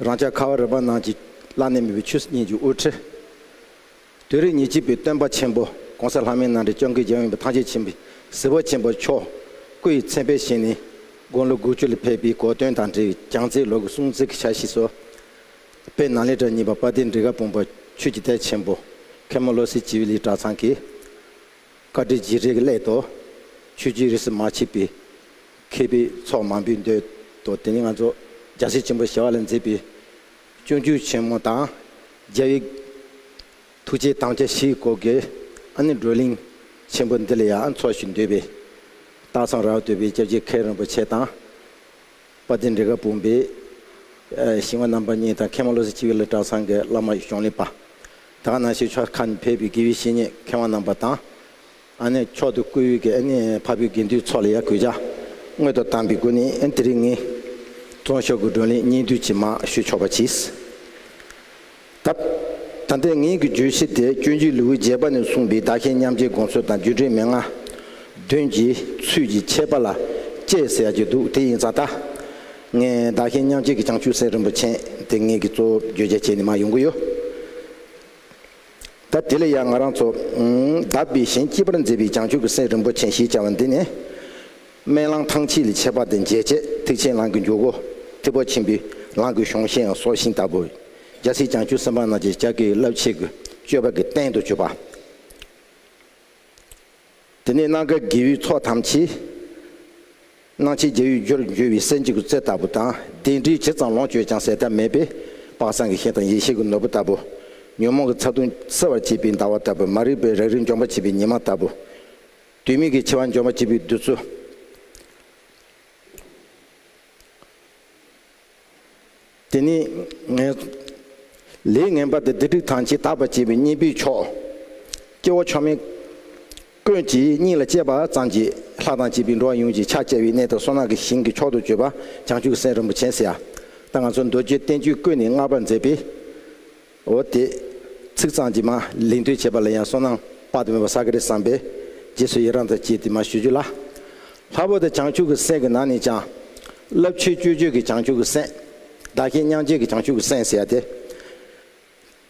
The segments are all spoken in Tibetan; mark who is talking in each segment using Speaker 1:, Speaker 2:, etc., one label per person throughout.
Speaker 1: རང་ཅག་ཁ་བ་རི་པ་ནང་གི་བླ་ནས་མི་བོའི་ཆོས་སྲིད་གཉིས་ཀྱི་དབུ་ཁྲིད། དུས་རབས་ཉེར་གཅིག་པའི་སྟོན་པ་ཆེན་པོ ྋགོང་ས་ལྷ་མོའི་ནང་འདྲེན་སྐྱོང་གི་རྒྱལ་ཡོངས་པའི་ཐང་ཆེན་ཆེན་པོའི་ཟིལ་བ་ཆེན་པོ་མཆོག་སྐུ་ཡི་མཚན་དཔེ་བཞེངས་ནས་དགུང་ལོ་དགུ་བཅུ་ལ་ཕེབས་པའི་གོ་སྟོན་དང་འབྲེལ་བའི་གྱང་རྩེའི་ལོ་གུ་སྲུང་བརྩི་གི་ཕྱག་བཞེས་སོ། དཔེ་ནང་ལས་གྲྭ་གཉིས་པ་དཔའ་སྡེ་འབྲི་ག་དཔུང་པ་ཆོས་ཀྱི་དད་ཆེན་པོ་མཁན་མོ་བློ་གསལ་སྤྱི་བོའི་ལི་གྲྭ་ཚང་གི། བཀའ་དྲིན་རྗེས་དྲན་གྱི་སླད་དུ། ཆོས་རྒྱུད་རིས་སུ་མ་ཕྱེས་པའི། མཁས་པའི་ཚོགས་མང་པོས་འདོད་དོ། དེ་ནས་ང་ཚོ་རྒྱ་སེ་ཆེན་པོ་ཞེས་བ་ལ་མཛེས་པའི་སྤྱོད་རྒྱུད་ཆེན་མོ་དང། རྒྱལ་བའི་ཐུགས་རྗེའི་དམ་བཅའ་བཞིའི་སྐོར་གྱི་ཨ་ནི་བགྲོ་གླེང་ཆེན་པོ་འདི་ལ་ཡང་འཚོགས་ཤིག་འདོད་པས། སྟག་ཚང་རྭ་བ་སྟོད་པའི་སྐྱབས་རྗེ་མཁན་རིན་པོ་ཆེ་དང། དཔའ་བརྟན་འབྲི་ག་བུམ་པའི་ཞིང་བ་རྣམ་པ་གཉིས་དང་མཁས་དབང་བློ་གསལ་སྤྱི་བོའི་བླ་བྲང་ཚང་གི་བླ་མ་གཞུང་ལས་པདྨ་ནང་ཆོས་ཆོས་ཁ་ནས་ཕེབས་པའི་དགེ་བའི་བཤེས་གཉེན་མཁས་དབང་རྣམ་པ་དང། ཨ་ནི་མཆོག་ཏུ་བཀུར་འོས་ཀྱི་ཨ་ནི་ཕ་བུའི་དགེ་འདུན་ཚོགས་ལ་ཡར་གུས་བྱ། སྔོན་དུ་བཏང་པའི་སྒོ་ནི་དེ་རིང་ངེད། ཚོགས་ཞོག་གི་བགྲོ་གླེང་སྙིང་བསྡུས་ཅི་མང་ཞུ་ཆོག་པ་གྱིས། ད། ད་ལྟའི་ངེད་ཀྱི་བརྗོད་གཞི་དེ་སྤྱོད་འཇུག་ལེའུའི་རྒྱས་པ་ནས་གསུངས་པའི་བདག་གཞན་མཉམ་བརྗེའི་དགོངས་ཚུལ་དང་བརྒྱུད་སྤྲོས་མེད་ངང། དོན་གྱི་ཚུལ་གྱི་ཁྱད་པར་ལ་དཔྱད་ཟེར་ཡག་གི་འདུག་དེ་ཡིན་ཙང་ད། ངས་བདག་གཞན་མཉམ་བརྗེ་གི་བྱང་ཆུབ་སེམས་རིན་པོ་ཆེན་དེ་ངེད་ཀྱི་གཙོ་བོ་བརྗོད་བྱ་བྱས་ནས་མ་ཡོང་གི་ཡོད། ད་དེ་ལ་ཡང་ང་རང་ཚོ། བདག་པས་གཞན་སྐྱིད་པར་མཛད་པའི་བྱང་ཆུབ་ཀྱི་སེམས་རིན་པོ་ཆེ་ཞེས་བྱ་བ་འདི་ནི། སྨན་གླང་ཐང་ཕྱེད་ལས་ཆད་པ་དང་འཇལ་ཆད་ཐིག་ཆེན་གླང་གི་འཇུག་སྒོ། ཐིག་པ་ཆེན་པོའི་གླང་གི་གཞོང་ཤེས་ཡང་སྲོག་ཤིང་ལྟ་བུ། རྒྱལ་སྲས་བྱང་ཆུབ་སེམས་དཔའ་རྣམས་ཀྱི་ལྕགས་ཀྱི་རླབས་ཆེན་གྱི་སྤྱོད་པ་གྱི་རྟེན་དུ་གྱུར་པ། དེ་ནས་སྣ་དཀར་རྒྱལ་བུའི་ཚོགས་ཐམས་ཅད། སྣང་བྱེད་རྒྱལ་བའི་རྒྱུར་འགྱུར་བའི་གསལ་འབྱེད་སྐུ་རྩེ་ལྟ་བུ་དང་ལྡན་འདྲིས་བྱེད་ཙམ་ལོངས་སྤྱོད་ཅུང་ཟད་ཐ་མལ་པས་དཔག་བསམ་གྱི་ཤེལ་དང་ཡེ་ཤེས་ཀྱི་ནོར་བུ་ལྟ་བུ། ཉོན་མོངས་ཀྱི་ཚ་གདུང་སེལ་བར་བྱེད་པའི་ཟླ་བ་ལྟ་བུ་མ་རིག་པའི་རང་རིག་འཇོམས་པར་བྱེད་པའི་ཉི་མ་ལྟ་བུ། དུས་མིན་གྱི་འཆི་བ་འཇོམས་པར་བྱེད་པའི་བདུད་རྩི། དེ་ནི་ངའི། ལས་ངན་པ་དེ་བདེ་སྡུག་དང་བྱེ་བྲག་པར་བྱེད་པའི་གཉེན་པོའི་མཆོག། སྐྱེ་བོ་མཆོག་མིན། ཀུན་གྱིས་སྙིང་ལ་གཅེས་པ་ཙམ་གྱིས་ལྷ་དང་བྱིས་པའི་འགྲོ་བ་ཡོངས་ཀྱི་ཕྱག་བཅའ་བའི་གནས་དང་སོ་ནག་གི་ཞིང་གི་མཆོག་ཏུ་བརྗོད་པ་བྱང་ཆུབ་སེམས་རིན་པོ་ཆེན་སེ་ཡ། ད་ང་ཚོ་མདོ་རྒྱུད་བསྟན་བཅོས་ཀུན་ནས་བསྔགས་པར་མཛད་པའི། འོ་དེས། ཚིག་གཙང་གྱིས་མ་ལིང་ཐོས་བྱས་པ་ལ་ཡང་སོ་ནང་དཔག་ཏུ་མེད་པ་ས་ག་རི་བསམས་པས། རྗེས་སུ་ཡི་རང་དང་བཅས་ཏེ་མ་ཞུ་རྒྱུ་ལ། ལྷ་བུ་དང་བྱང་ཆུབ་ཀྱི་སེམས་ཀྱི་ནང་ནས་ཀྱང། རླབས་ཆེའི་སྤྱོད་བྱེད་ཀྱི་བྱང་ཆུབ་ཀྱི་སེམས། བདག་གཞན་མྱང་བྱེད་ཀྱི་བྱང་ཆུབ་ཀྱི་སེམས་ཟེར་བ་དེ།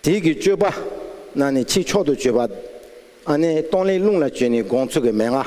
Speaker 1: དེས་ཀྱི་སྤྱོད་པ། ནང་ནས་ཆེས་མཆོག་ཏུ་སྤྱོད་པ། ཨ་ནེ་སྟོང་ལས་རླུང་ལ་བཅོལ་ནས་དགོངས་ཚུལ་གྱི་མན་ངག།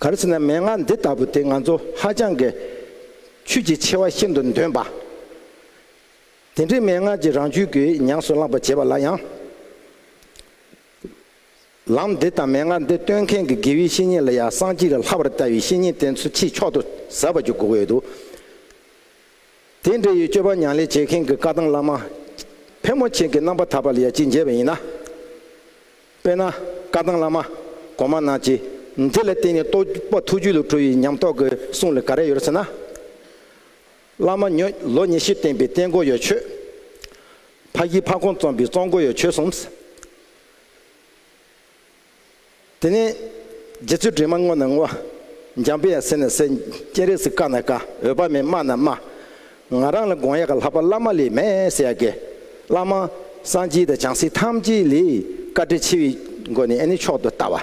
Speaker 1: ག་རེ་ཟེར་ན་མན་ངག་འདི་ལྟ་བུ་དེ་ང་ཚོ་ཧ་ཅང་གི་ཆོས་ཀྱི་ཆེ་བ་ཤིན་ཏུ་འདོན་པ། དེ་འདྲའི་མན་ངག་ཅིག་རང་རྒྱུད་ཀྱི་ཉམས་སུ་བླངས་པར་བྱས་པ་ལ་ཡང། ལམ་འདི་དང་མན་ངག་འདི་སྟོན་མཁན་གྱི་དགེ་བའི་བཤེས་གཉེན་ལ་ཡང་གསང་སྤྱི་ལ་ལྷ་བར་ལྟ་བའི་བཤེས་གཉེན་དེ་ཚོ་ཆེས་མཆོག་ཏུ་ཟབ་པར་གྱུར་དགོས་ཡོད་དོ། དེ་འདྲ་ཡི་སྤྱོད་པ་མྱང་ལས་བྱེད་མཁན་གྱི་བཀའ་ཐང་བླ་མ་ཕལ་མོ་ཆེ་གི་རྣམ་པ་དག་པ་ལ་ཡང་ཅི་མཇལ་བ་ཡིན་ན། དཔེར་ན། བཀའ་ཐང་བླ་མ། གོང་མ་རྣམས་ཀྱིས། འདི་ལ་བརྟེན་ནས་རྟོགས་པ་ཐུགས་རྒྱུད་ལ་གྲོལ་བའི་ཉམས་རྟོགས་ཀྱི་གསུང་ལ་ག་རེ་ཡོད་ཟེར་ན། བླ་མ་ཉོན། ལོ་ཉེར་བཞི་བསྟན་པའི་བསྟན་སྒོ་ཡོད་ཆོས། ཕ་བཞི་ཕ་གོང་རྩོམ་པའི་རྩོམ་སྒོ་ཡོད་ཆོས་གསུངས། དེ་ནས། རྗེ་བཙུན་དྲི་མ་བསྔོ་ན་བསྔོ། འཇམ་དཔལ་ཡང་ཟེར་ན་ཟེར། སྤྱན་རས་གཟིགས་བཀའ་ན་བཀའ། འོད་དཔག་མེད་སྨྲ་ན་སྨྲ། ང་རང་ལ་དགོངས་ཡག་གི་ལྷག་པ་བླ་མ་ལས་མེད་ཟེར་ཡག་གི། བླ་མ། སངས་རྒྱས་དང་བྱང་སེམས་ཐམས་ཅད་ལས། བཀའ་དྲིན་ཆེ་བའི། སྒོ་ནས་ནི་མཆོག་ཏུ་ལྟ་བ།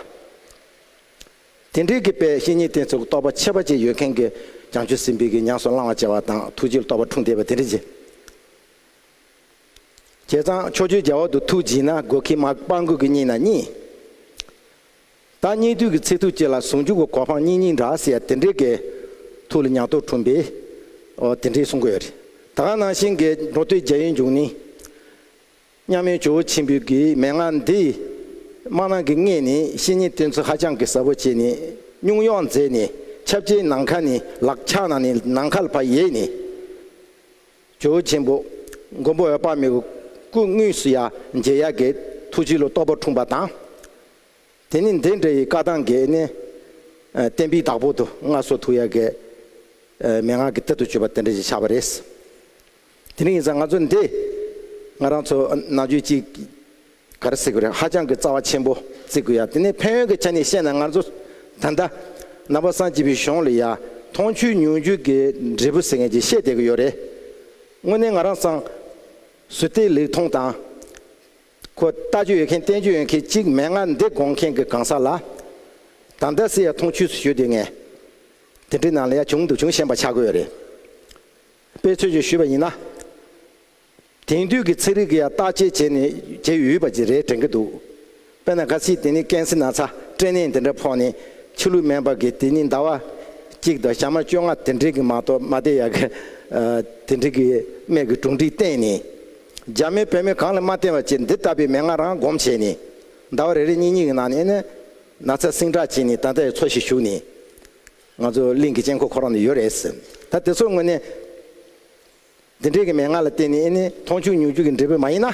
Speaker 1: དེ་འདྲའི་གི་དཔལ་བཤེས་གཉེན་དེ་ཚོ་གི་རྟོགས་པ་ཆེ་བ་བཅས་ཡོད་མཁན་གི། བྱང་ཆུབ་སེམས་དཔའི་གི་ཉམས་སུ་བླང་བ་བཅས་བ་དང་ཐུགས་རྗེ་རྟོགས་པ་འཁྲུངས་བསྡད་པ་དེ་འདྲའི་རྗེ། བྱས་ཙང་ཕྱོགས་བཅུའི་རྒྱལ་བ་དུ་ཐུགས་བགྱིས་ན་དགོས་ཁི་མ་སྤང་དགོས་གི་གཉིས་ན་གཉིས། བདག་སྙིང་ཐུགས་ཀྱི་ཚིག་ཐུགས་བསྐྱེད་ལ་ཟུང་འཇུག་གི་གོ་འཕང་སྙིང་སྙིང་འདྲ་ཟེར་ཡ་དེ་འདྲའི་དགེ། ཐུགས་ལ་ཉག་སྟོབས་འཁྲུངས་པས། ཨོ་དེ་འདྲའི་གསུང་གོ་ཡ་རེད། ད་ག་ནང་བཞིན་དགེ། འགྲོ་དོན་རྒྱལ་ཡོན་འབྱུང་ནི། མཉམ་མེད་ཇོ་བོ་ཆེན་པོའི་དགེའི་མན་ངག་འདི། སྨྲ་ནང་གི་ལྔས་ནི་བཤེས་གཉེན་སྟོན་ཚུལ་ཧ་ཅང་གི་ཟབ་བོ་བྱས་ནས་སྙུང་གཡོག་མཛད་ནས་ཁྱབ་བྱའི་ནང་ཁ་ནི་ལག་ཕྱག་ན་ནི་ནང་ཁ་ལ་བ་ཡས་ནི། ཇོ་བོ་ཆེན་པོ། མགོན་པོ་འོད་དཔག་མེད་ཀྱི་སྐུ་དངོས་སུ་ཡ་མཇལ་ཡ་དགེ། ཐུགས་ཆེན་ལོ་ཏོག་པ་འཁྲུངས་པ་དང། དེ་ནི་འདི་འདྲ་ཡི་བཀའ་ཐང་འགས་ནི། བསྟན་པའི་བདག་པོ་དུ་ལྔ་སོགས་ཐུགས་ཡག་གི། མན་ངག་གི་གཏེར་དུ་བཅོལ་བ་དེ་འདྲ་ཞིག་ཆགས་པ་རེད། དེ་རིང་ཡིན་ཙང་ང་ཚོ་འདི། ང་རང་ཚོ་ནང་ཆོས་གཅིག། ག་རེ་བསྲེ་དགོས་རེད་ཧ་ཅང་གི་རྩ་བ་ཆེན་པོ་བརྩི་དགོས་ཡ་དེ་ནི་ཕན་ཡོན་གི་ཆ་ནས་བཤད་ན་ང་ཚོ། ད་ལྟ། ནང་པ་སངས་སྐྱིད་པའི་གཞུང་ལ་ཡ། མཐོང་ཆོས་མྱོང་ཆོས་ཀྱི་འབྲས་བུ་ཟེར་མཁན་གྱི་བཤད་སྡད་ཀྱི་ཡོད་རེད། དངོས་གནས་ང་རང་སངས། སུ་བལྟས་ལེགས་མཐོང་དང། ཁོ་ལྟ་རྒྱུ་ཡོད་མཁན་བསྟེན་རྒྱུ་ཡོད་མཁན་གཅིག་མེད་ང་འདི་དགོངས་མཁན་གྱི་གང་ཟག་ལ། དང་ད་སི་ཡ་ཐོང་ཆུས་སུ་ཞུས་དུས་ངས། དེ་འདྲའི་ནང་ལ་ཡ་བྱུང་འདུག་བྱུང་ཤན་པ་ཆགས་དགོས་རེད། པའི་ཚོད་ཅིག་ཞུས་པ་ཡིན་ན། དེང་དུས་ཀྱི་ཚིག་རིགས་ཀྱི་ཡ་བརྟག་དཔྱད་བྱས་ནས་བྱེད་ཡུས་པ་ཅིག་རེད་དྲན་གྱི་འདུག་དཔེར་ན་ག་སི་དེ་ནི་ཀན་སི་ན་ཚ་སྤྲེ་ནས་འདི་འདྲ་ཕོག་ནས་ཕྱི་ལུགས་མན་པ་གི་དེ་ནི་ཟླ་བ། གཅིག་དང་ཞག་མ་བཅོ་ལྔ་དེ་འདྲའི་གི་མ་གཏོགས་མ་བསྡད་ཡ་གི། དེ་འདྲའི་གི་སྨད་གི་གྲུང་འདྲིས་བསྟེན་ནས། རྒྱ་མིས་བོད་མི་གང་ལ་མ་བསྟན་པ་བཅས་འདི་ལྟ་བུའི་མན་ངག་རང་བསྒོམས་བྱས་ནས། ཟླ་བ་རེ་རེ་གཉིས་གཉིས་ཀྱི་ནང་ནས་ནི། ན་ཚ་སྲིང་དྲག་བྱས་ནས་ད་ལྟའི་འཚོ་བཞིན་བཞུགས་ནས། ང་ཚོ་གླིང་གི་དཀྱིལ་འཁོར་ཁོ་རང་དུ་ཡོད་རེད་ཟེར། ད་དེ་ཚོ་དངོས་གནས། འདི་འདྲའི་གི་མན་ངག་ལ་བརྟེན་ནས་ནི་མཐོང་ཆུང་ཉུང་ཆུང་གི་འབྲས་བུ་མ་ཡིན་ན།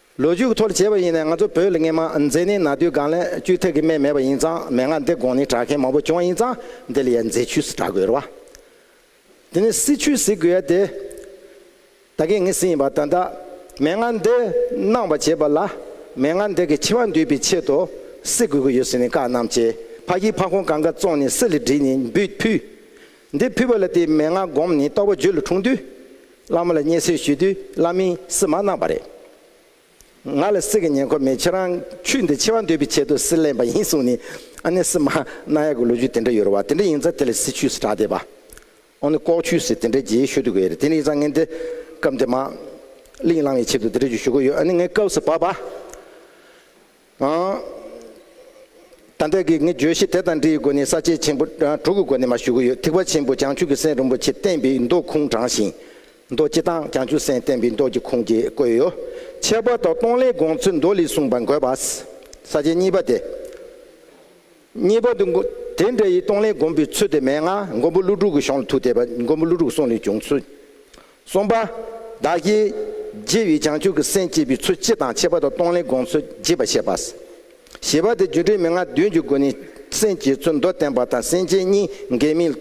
Speaker 1: ལོ་རྒྱུས་ཀྱི་ཐོག་ལ་བྱས་པ་ཡིན་ནའི་ང་ཚོ་བོད་ལ་ངེད་མ་མཛེས་ནི་ན་དུས་སྒང་ལས་བཅུ་ཐེག་གི་སྨད་མེད་པ་ཡིན་ཙང་མན་ངག་འདི་དགོངས་ནས་གྲགས་མཁན་མང་པོ་བྱུང་བ་ཡིན་ཙང་འདི་ལ་ཡང་མཛེས་ཆུས་སུ་གྲགས་དགོས་རེད་བ། དེ་ནས་སྲིད་ཆུས་ཟེར་དགོས་ཡ་དེ། ད་གིན་ངས་སྲིད་ཡིན་པ་ད་ལྟ་མན་ངག་འདི་གནང་བ་བྱས་པ་ལ་མན་ངག་འདི་གི་ཆེ་བ་འདུས་པའི་ཆེད་དུ་སྲིད་དགོས་ཀྱི་ཡོད་ཟེར་ནས་བཀའ་གནང་བྱས་ཕ་གིའི་ཕ་ཁོང་གང་ག་བཙོང་ནས་སྲིད་ལ་བྲིས་ནས་འབུད་ཕུད། འདིར་ཕུལ་བ་ལ་དེའི་མན་ངག་བསྒོམས་ནས་རྟོགས་པ་བརྗོད་ལ་འཁྲུངས་དུས། བླ་མ་ལ་བརྙས་སེལ་ཞུས་དུས་བླ་མས་སིལ་མ་གནང་བ་རེད། ང་ལ་སིལ་གྱི་ཉེན་ཁོ་མེད་ཁྱེད་རང་ཆུ་འདི་འཆི་བ་འདོད་པའི་ཆེད་དུ་སིལ་ལེན་པ་ཡིན་གསུངས་ནས་ཨ་ནེ་སིལ་མ་གནང་ཡག་གི་ལོ་རྒྱུས་དེ་འདྲ་ཡོད་རེད་བ་དེ་འདྲ་ཡིན་ཙང་དེ་ལ་སིལ་ཆུས་སུ་གྲགས་ཏེ་བ་ཨོ་ནི་ལྐོག་ཆུས་སིལ་དེ་འདྲ་རྒྱས་ཞུ་དགོས་རེད་དེ་ནས་ཡིན་ཙང་ངས་འདི་སྐབས་འདི་མ་གླིང་བླང་བའི་ཆེད་དུ་དེ་འདྲ་རྒྱུ་ཞུ་གི་ཡོད་ཨ་ནི་ངའི་སྐབས་སུ་བ་བ། ད་ལྟའི་གི་ངས་བརྗོད་གཞི་དེ་དང་འདྲིའི་སྒོ་ནས་ས་བཅད་ཆེན་པོ་དྲུག་གི་སྒོ་ནས་མ་ཞུ་གི་ཡོད་ཐིག་པ་ཆེན་པོ་བྱང་ཆུབ་ཀྱི་སེམས་རིན་པོ་ཆེ་བསྟན་པའི་མདོ་ཁུངས་དྲངས་ཤིང། མདོ་སྤྱི་དང་བྱང་ཆུབ་སེམས་བསྟན་པའི་མདོ་ཀྱི་ཁུངས་ཀྱི་བཀོད་ཡོད། ཁྱད་པར་དུ་སྟོང་ལས་དགོངས་ཚུལ་མདོ་ལས་གསུངས་པ་འགོད་པ། ས་བཅད་གཉིས་པ་དེ། གཉིས་པ། དེ་འདྲ་ཡི་སྟོང་ལས་སྒོམ་པའི་ཚུལ་དེ་མན་ངག་མགོན་པོ་ཀླུ་སྒྲུབ་ཀྱི་གཞུང་ལ་ཐུག་དེས་པ་མགོན་པོ་ཀླུ་སྒྲུབ་གསུང་ལས་བྱུང་ཚུལ། གསུམ་པ། བདག་གིས་རྗེ་བའི་བྱང་ཆུབ་ཀྱི་སེམས་བསྐྱེད་པའི་ཚུལ་སྤྱི་དང་ཁྱད་པར་དུ་སྟོང་ལས་དགོངས་ཚུལ་རྒྱས་པར་བཤད་པ། ཞེས་པ་སྟེ་སྒྱུ་འཕྲུལ་མན་ངག་བདུན་གྱི་སྒོ་ནས་སེམས་བསྐྱེད་ཚུལ་མདོར་བསྟན་པ་དང་སེམས་བསྐྱེད་གཉིས་འགལ་མིན་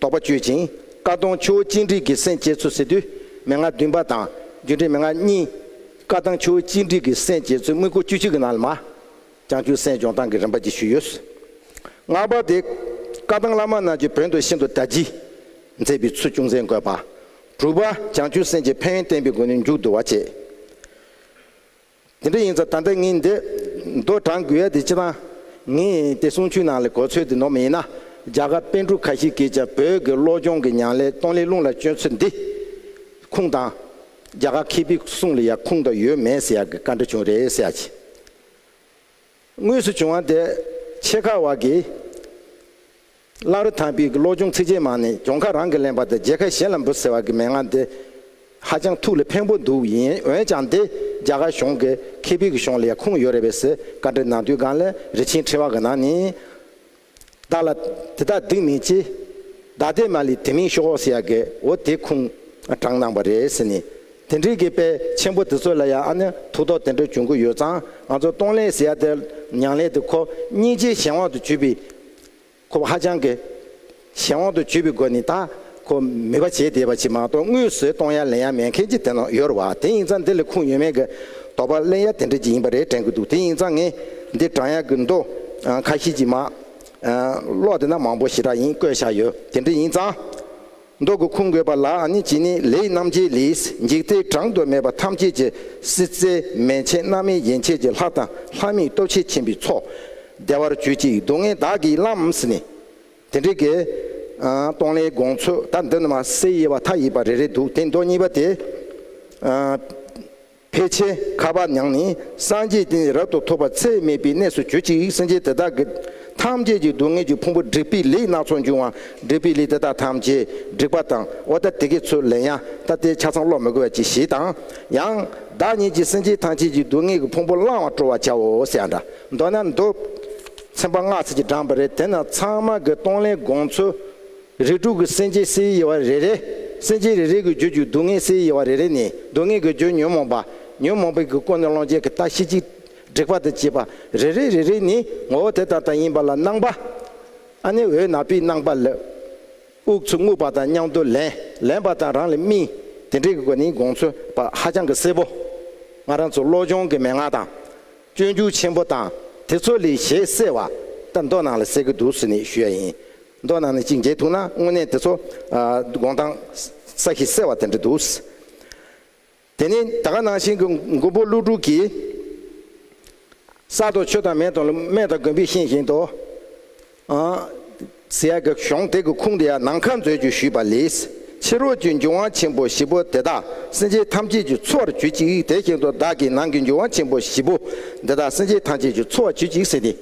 Speaker 1: དོགས་པ་གཅོད་ཅིང་བཀའ་གདམས་ཆུ་བོ་གཅིག་འགྲིག་གི་སེམས་བསྐྱེད་ཚུལ་ཟེར་དུས་མན་ངག་བདུན་པ་དང་སྒྱུ་འཕྲུལ་མན་ངག་གཉིས། བཀའ་གདམས་ཆུ་བོ་གཅིག་འགྲིག་གི་སེམས་བསྐྱེད་ཚུལ་དམིགས་སྐོར་བཅུ་གཅིག་གི་ནང་ལ་མ། ཀྱང་ཅུང་ཟད་སྦྱོང་སྟངས་ཀྱི་རིམ་པ་བརྒྱད་ཞུས་ཡོད། སྔགས་པ་དེ། བཀའ་ཐང་བླ་མ་རྣམས་ཀྱི་བོན་དུ་ཤིན་ཏུ་གྲ་འཇིགས། མཛད་པའི་ཚུལ་ཅུང་ཟད་འགོད་པ། དྲུག་པ། བྱང་ཆུབ་སེམས་ཀྱི་ཕན་ཡོན་བསྟན་པའི་སྒོ་ནས་མཇུག་བསྡུ་བ་བྱས། དེ་འདྲ་ཡིན་ཚ་ད་ལྟ་ངས་འདི། མདོ་དྲངས་དགོས་ཡ་དེ་ཅི་ཐང། ངས་དེ་གསུང་ཆོས་ནང་ལས་གོ་ཚོད་དེ་ནོར་མི་ཡིན་ན། རྒྱ་གར་པཎ་གྲུབ་ཁ་ཤས་ཀྱིས་ཀྱང་བོད་ཀྱི་བློ་སྦྱོང་གི་ཉང་ལས་སྟོང་ལས་རླུང་ལ་བཅོལ་ཚུལ་འདི། ཁུངས་དང། རྒྱ་གར་མཁས་པའི་གསུང་ལ་ཡང་ཁུངས་དང་ཡོད་མེད་ཟེར་ཡག་གི་བཀའ་འདྲི་བྱུང་རེད་ཟེར་ཡག་གི། དངོས་སུ་བྱུང་བ་དེ་ཆེད་ཁག་བག་གིས་བླ་རུ་དྭགས་པའི་གློག་སྦྱོང་ཚིགས་བཅད་མང་ནས་གྱོང་ཁ་རང་གིས་ལེན་པ་དང་རྒྱལ་ཁ་གཞན་ལ་འབུལ་ཟེར་བ་གི་མན་ངག་འདི་ཧ་ཅང་ཐུགས་ལ་ཕན་པོ་འདུག་ཡིན་འོན་ཀྱང་འདི་རྒྱ་གར་གཞུང་གི་ཁེ་ཕིག་གི་གཞུང་ལ་ཡང་ཁུངས་ཡོད་རེད་བས་སི་ཀ་འདྲི་ནང་དུས་སྒང་ལ་རི་ཆེན་ཕྲེང་བ་གི་ནང་ནས་བདག་ལ་དེ་དག་སྡིག་མེད་ཅེས། བདག་དེས་མ་ལི་དེ་མིང་ཤོ་ཨོ་སི་ཡ་གེ་འོ་དེ་ཁུང་དྲངས་གནང་བ་རེད་ཟེར་ནས། དེ་འདྲའི་གེ་དཔལ་ཆེན་པོ་དེ་ཚོ་ལ་ཡང་ཨ་ནི་ཐུགས་དོགས་དེ་འདྲ་བྱུང་གི་ཡོད་ཙང་ང་ཚོ་སྟོང་ལས་སི་ཡ་དེ་མྱང་ལས་དེ་ཁོ་སྙིང་རྗེའི་གཞན་དབང་དུ་གྱུར་པའི། ཁོ་བ་ཧ་ཅང་གི་གཞན་དབང་དུ་གྱུར་པའི་སྒོ་ནས་ད། ཁོ་མོས་པ་བྱེད་བདེ་བ་བྱེད་མ་གཏོགས་དངུལ་ཟོས་གཏོང་ཡ་ལེན་ཡ་མེད་མཁན་གྱི་དེ་ནོ་ཡོར་བ་དེ་ཡིན་ཙང་འདི་ལས་ཁུངས་ཡོད་མེད་ཀྱི་དོགས་པ་གླེང་ཡ་དེ་འདྲ་གྱི་ཡིན་པ་རེད་དྲན་གྱི་འདུག་དེ་ཡིན་ཙང་ངས་འདི་བགྲང་ཡ་གྱི་འདུག་ཁ་ཤེས་ཀྱི་མ་གློག་དེ་ན་མང་པོ་ཞེ་དྲག་ཡིན་བཀོད་བཞག་ཡོད་དེ་འདྲ་ཡིན་ཙང་འདུག་གི་ཁུངས་འགོད་པ་ལ་ནི་གྱི་ནི་ལེའི་རྣམ་འབྱེད་ལིས་འཇིག་རྟེན་བགྲང་དུ་མེད་པ་ཐམས་ཅད་ཀྱི་སྲིད་རྩེ་མན་ཆད་རྣམ་སྨིན་ཡན་ཆད་ཀྱི་ལྷ་དང་ལྷ་མིའི་སྟོབས་ཆེ་ཆེན་པོའི་ཚོགས་བདེ་བར་གྱུར་ཅིག་སྡུག་བསྔལ་བདག་གིས་བླངས་ནི། དེ་འདྲའི་དགེ། སྟོང་ལས་དགོངས་ཚོད་ད་འདི་ནི་མ་གསལ་དབྱེ་བ་མཐའ་ཡས་པ་རེ་རེ་འདུག་དེ་མདོ་གཉིས་པ་དེ། ཕལ་ཆེར་ཁ་བ་ཉང་ནི་སངས་རྒྱས་བསྟན་འཛིན་རབ་ཏུ་ཐོབ་པ་ཚད་མེད་པའི་གནས་སུ་གྱུར་ཅིག་སེམས་ཅན་དེ་དག་གི། ཐམས་ཅད་ཀྱི་སྡུག་བསྔལ་གྱི་ཕུང་པོ་བསྒྲིགས་པས་ལས་སྣ་ཚོགས་འབྱུང་བ་བསྒྲིགས་པས་ལས་དེ་དག་ཐམས་ཅད་བསྒྲིགས་པ་དང་འོ་ད་དེ་གས་ཚོད་ལེན་ཡ་ད་ལྟའི་ཆ་ཚང་ཀློག་མི་དགོས་པ་གྱིས་ཞེས་དང། ཡང། བདག་ཉིད་ཀྱིས་སེམས་ཅན་ཐམས་ཅད་ཀྱི་སྡུག་བསྔལ་གྱི་ཕུང་པོ་བླང་བར་སྤྲོ་བར་བྱའོ་ཞེས་འདྲ། མདོར་ན་མདོ། ཚན་པ་སྔགས་ཚིག་གིས་བསྒྲངས་པ་རེད་དེ་ན་ཚང་མ་གི་གཏོང་ལེན་དགོངས་ཚུལ། རིགས་དྲུག་གི་སེམས་ཅན་སའི་དབྱེ་བ་རེ་རེ། སེམས་ཅན་རེ་རེ་གི་རྒྱུད་རྒྱུ་སྡུག་བསྔལ་སའི་དབྱེ་བ་རེ་རེ་ནི་སྡུག་བསྔལ་གི་རྒྱུ་ཉོན་མོངས་པ། ཉོན་མོངས་པའི་གི་ཀུན་ནས་ལོངས་སྤྱད་གི་རྟགས་ཤེས་ཅིག། འགྲིག་པ་དང་བཅས་པ་རེ་རེ་རེ་རེ་ནི་ངོ་བོ་དེ་དང་དང་ཡིན་པ་ལ་སྣང་བ། ཨ་ནི་འོད་ནག་པོའི་སྣང་བ་ལས། དབུགས་ཚུར་རྔུབ་པ་དང་མཉམ་དུ་ལེན་ལེན་པ་དང་རང་ལ་སྨིན། དེ་འདྲའི་གི་སྒོ་ནི་དགོངས་ཚུལ་པ་ཧ་ཅང་གི་གསལ་བོ། ང་རང་ཚོ་བློ་སྦྱོང་གི་མན་ངག་དང། སྤྱོད་འཇུག་ཆེན་པོ་དང་དེ་ཚོ་ལས་ཞལ་གསལ་བ་ད་མདོ་ནང་ལ་གསལ་གྱི་འདུག་ཟེར་ནས་ཞུ་ཡ་ཡིན། མདོ་ནང་ནས་གཅིག་མཇལ་ཐུག་ན་དངོས་གནས་དེ་ཚོ་དགོངས་དང་ས་གཞི་གསལ་བ་དེ་འདྲ་འདུག། དེ་ནི་ད་ག་ནང་བཞིན་གྱི་མགོན་པོ་ཀླུ་སྒྲུབ་ཀྱིས། གསར་དུ་ཆོས་དང་མེ་དང་མེ་དང་དགོན་པའི་ཤིང་བཞིན་དུ། སེ་ཡ་གི་གཞོང་དེ་གི་ཁུང་དུ་ཡང་ནང་ཁ་མཛོད་བཅུ་ཞུས་པ་ལས། ཕྱི་རོལ་གྱི་འབྱུང་བ་ཆེན་པོ་བཞི་པོ་དེ་དག་སེམས་ཅན་ཐམས་ཅད་ཀྱི་འཚོ་བར་བྱུད་ཅིག་དེ་བཞིན་དུ་བདག་གིས་ནང་གི་འབྱུང་བ་ཆེན་པོ་བཞི་པོ་འདི་དག་སེམས་ཅན་ཐམས་ཅད་ཀྱི་འཚོ་བར་བྱུད་ཅིག་ཟེར་ཏེ།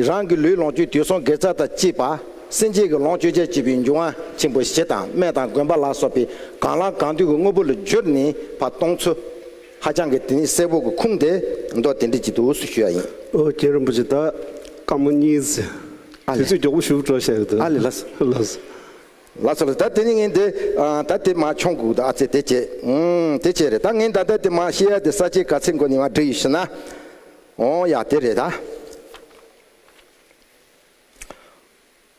Speaker 1: རང་གི་ལུས་ལོངས་སྤྱོད་དུས་སོང་དགེ་རྩ་དང་བཅས་པ་སེམས་ཅན་གྱི་ལོངས་སྤྱོད་ཆ་བྱད་པའི་འབྱུང་བ་ཆེན་པོ་བཞི་དང་སྨན་དང་གོན་པ་ལ་སོགས་པའི་གང་ལ་གང་འདུལ་གྱི་དངོས་པོ་ལ་བསྒྱུར་ནས་བར་སྟོང་ཚོལ། ཧ་ཅང་གི་དེ་ནི་སེར་པོ་གི་ཁུངས་དེ་མདོ་དེ་འདྲི་གྱི་འདུག་སུ་ཞུ་ཡ་ཡིན། ཨོ་རྒྱན་རིན་པོ་ཆེ་ད་
Speaker 2: སྐར་མ་གཉིས། ཨ་དུས་ལེ། ཚོད་མགྱོགས་པོ་ཞུགས་འགྲོ་ཞེས་ཨ་ལེ་ལ། ལ་སོ།
Speaker 1: ལ་སོ་ལ་ད་དེ་ནི་ངས་འདི་ད་དེ་མ་འཁྱོངས་གུག་ད་ཨ་ཚེ་དེ་བྱས། དེ་བྱས་རེད་ད་ངས་ད་ད་དེ་མ་ཤེས་ཡ་དེ་ས་ཆའི་ག་ཚེ་མགོ་ནས་མ་འབྲི་ཡོད་ཤི་ན། ཨོ་ཡ་དེ་རེད་ད།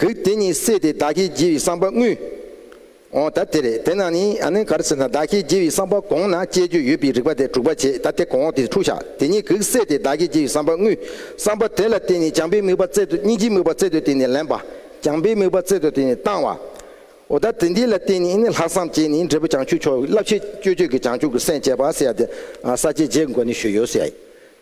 Speaker 1: གི། དེ་ཉིད་བསྲེས་ཏེ་བདག་གིས་བགྱི་བའི་བསམ་པ་དངོས། འོ་ད་དེ་རེད་དེ་ན་ནི་ཨ་ནི་ག་རེ་ཟེར་ན་བདག་གིས་བགྱི་བའི་བསམ་པ་གོང་ན་སྤྱད་རྒྱུ་ཡོད་པའི་རིགས་པ་དེ་དྲུག་པ་བྱེད་ད་དེ་གོང་འོག་དེ་འཁྲུགས་བྱ་དེ་ཉིད་གི་བསྲེས་ཏེ་བདག་གིས་བགྱི་བའི་བསམ་པ་དངོས། བསམ་པ་དེ་ལ་བརྟེན་ནས་སྦྱངས་པའི་དམིགས་པ་བཙལ་ཏོ་གཉིས་ཀྱི་དམིགས་པ་བཙལ་ཏོ་དེ་ནི་ལེན་པ། སྦྱངས་པའི་དམིགས་པ་བཙལ་ཏོ་དེ་ནི་བཏང་བ། འོ་ད་དེ་འདི་ལ་བརྟེན་ནས་ནི་ལྷག་བསམ་བསྐྱེད་ནས་འབྲས་བུ་བྱང་ཆུབ་མཆོག་གི་བསླབ་བྱའི་སྤྱོད་བརྗོད་ཀྱི་བྱང་ཆུབ་ཀྱི་སེམས་བསྐྱེད་པ་སེ་ཡ་དེ། ས་བཅད་བརྒྱད་འགོ་ནས་ཞུས་ཡོད་སེ་ཡ།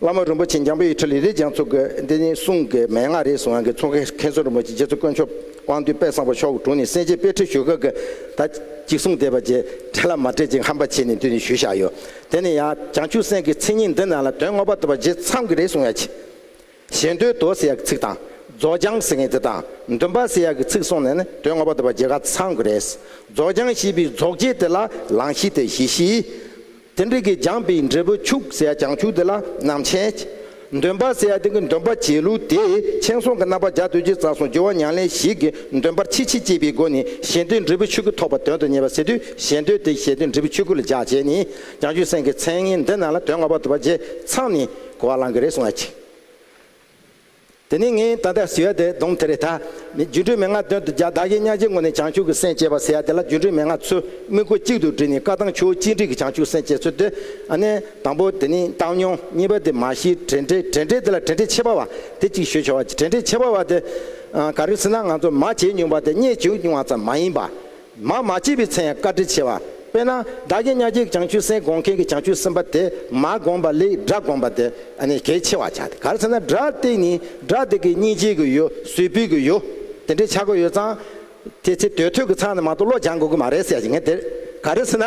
Speaker 1: བླ་མ་རིན་པོ་ཆེ་འཇམ་དཔལ་ཡིས་ཁྲི་ལི་རེ་འཇང་ཚོ་དགོས་འདི་ནི་གསུང་གི་མན་ངག་རེད་གསུང་ཡང་གི་ཚོགས་མཁན་མཁན་ཟུར་རིན་པོ་ཆེ་རྗེ་བཙུན་དཀོན་མཆོག་དབང་འདུས་དཔལ་བཟང་པོ་མཆོག་དྲུང་ནས་གསན་རྗེས་དཔེ་ཁྲིད་ཞུ་སྐབས་ཀྱི་ད་ཅིག་གསུང་བསྡད་པ་རྗེས་དྲན་ལ་མ་སྤྲད་ཅིག་ཧམ་པ་བྱས་ནས་འདི་ནས་ཞུས་བཞག་ཡོད་དེ་ནས་ཡང་བྱང་ཆུབ་སེམས་ཀྱི་མཚན་ཉིད་འདི་རྣམས་ལ་དོན་ངོ་པ་ཐོབ་པ་རྗེས་ཚང་གི་རེད་གསུང་ཡང་གི། ཞེ་འདོད་དོ་ཟེར་ཡག་གི་ཚིག་དང། རྫོགས་བྱང་ཟེར་མཁན་དེ་དང་འདུན་པ་ཟེར་ཡག་གི་ཚིག་གསུང་ནས་ནི་དོན་ངོ་པ་ཐོབ་པ་རྗེས་ག་ཚང་གི་རེད། རྫོགས་བྱང་ཞེས་པའི་རྫོགས་བྱེད་དེ་ལ་ལང་གཞི་དེ་གཞི་ཞེས། དེ་འདྲ་གི་སྦྱངས་པའི་འབྲས་བུ་ཕྱུག་ཟེར་ཡ་བྱང་ཆུབ་དེ་ལ་ནང་བྱན། འདོན་པ་ཟེར་ཡ་དེ་གི་འདོན་པ་བྱས་ལུགས་དེས་མཆན་སོང་གི་རྣམ་པ་འཇའ་དུས་ཀྱི་རྩ་སོང་སྦྱོར་བ་མྱང་ལེན་ཞིག་གི་འདོན་པར་ཕྱིས་ཕྱིས་བཅས་པའི་སྒོ་ནས་ཞེ་འདོད་འབྲས་བུ་ཆོས་སྐུ་ཐོབ་པ་དོན་དུ་གཉེར་བ་ཟེར་དུས་ཞེ་འདོད་དེ་ཞེ་འདོད་འབྲས་བུ་ཆོས་སྐུ་ལ་སྦྱར་བྱས་ནས་བྱང་ཆུབ་སེམས་ཀྱི་མཚན་ངན་འདི་རྣམས་ལ་དོན་ལྔ་པ་དུ་བ་རྗེས་ཚང་ནས་གོ་བ་བླང་གི་རེད་གསུང་བ་ཅིག། དེ་ནས་ངས་ད་ལྟ་ཟེ་ཡ་དེ་གདོང་ཐེར་རེ་ད། རྒྱུ་འབྲས་མན་ངག་དོན་དུ་བྱ་བདག་གིས་གཉའ་ཆེན་ངོ་ནས་བྱང་ཆུབ་ཀྱི་སེམས་བསྐྱེད་པ་ཟེ་ཡ་དེ་ལ་རྒྱུ་འབྲས་མན་ངག་ཚུལ་དམིགས་སྒོ་གཅིག་ཏུ་བསྒྲིལ་ནས་བཀའ་ཐང་ཆོས་གཅིག་འགྲིག་གི་བྱང་ཆུབ་སེམས་བསྐྱེད་ཚུལ་དེ། ཨ་ནེ། དང་པོ་དེ་ནི་བཏང་སྙོམས་གཉིས་པ་དེ་མ་གཞི་བྲལ་འབྲས་བྲལ་འབྲས་དེ་ལ་བྲལ་འབྲས་ཕྱེད་པ་བ་དེ་གཅིག་ཞུ་བྱ་བ་བྲལ་འབྲས་ཕྱེད་པ་བ་དེ། ག་རེ་ཟེར་ན་ང་ཚོ་མ་བྱས་མྱོང་པ་དེ་རྙེད་བྱུང་མྱོང་བ་ཙམ་མ་ཡིན་པ། མ་མ་སྐྱེས་པའི་ཚེ་ཡང་བཀའ་དྲིན་ཆེ་བ། དཔེར་ན་བདག་གིས་གཉའ་ཁྱིའི་བྱང་ཆུས་སེན་དགོང་མཁན་གྱི་བྱང་ཆུས་སེམས་པ་དེ་མ་དགོངས་པ་ལས་སྒྲ་དགོངས་པ་དེ་ནི་གལ་ཆེ་བར་བྱ་སྟེ་ག་རེ་ཚེ་ན་སྒྲ་སྟེ་ནི་སྒྲ་དེ་གི་སྙིང་རྗེ་གི་ཡོད་ཟུལ་ཕུལ་གི་ཡོད་དེ་འདྲའི་ཆག་སྒོ་ཡོད་ཙང། དེ་ཚེ་དུས་ཐོས་གི་ཚང་ནས་མ་གཏོགས་བློ་སྦྱང་དགོས་གི་མ་རེད་ཟེར་ཡ་ཞིག་ངས་དེར་ག་རེ་ཚེ་ན།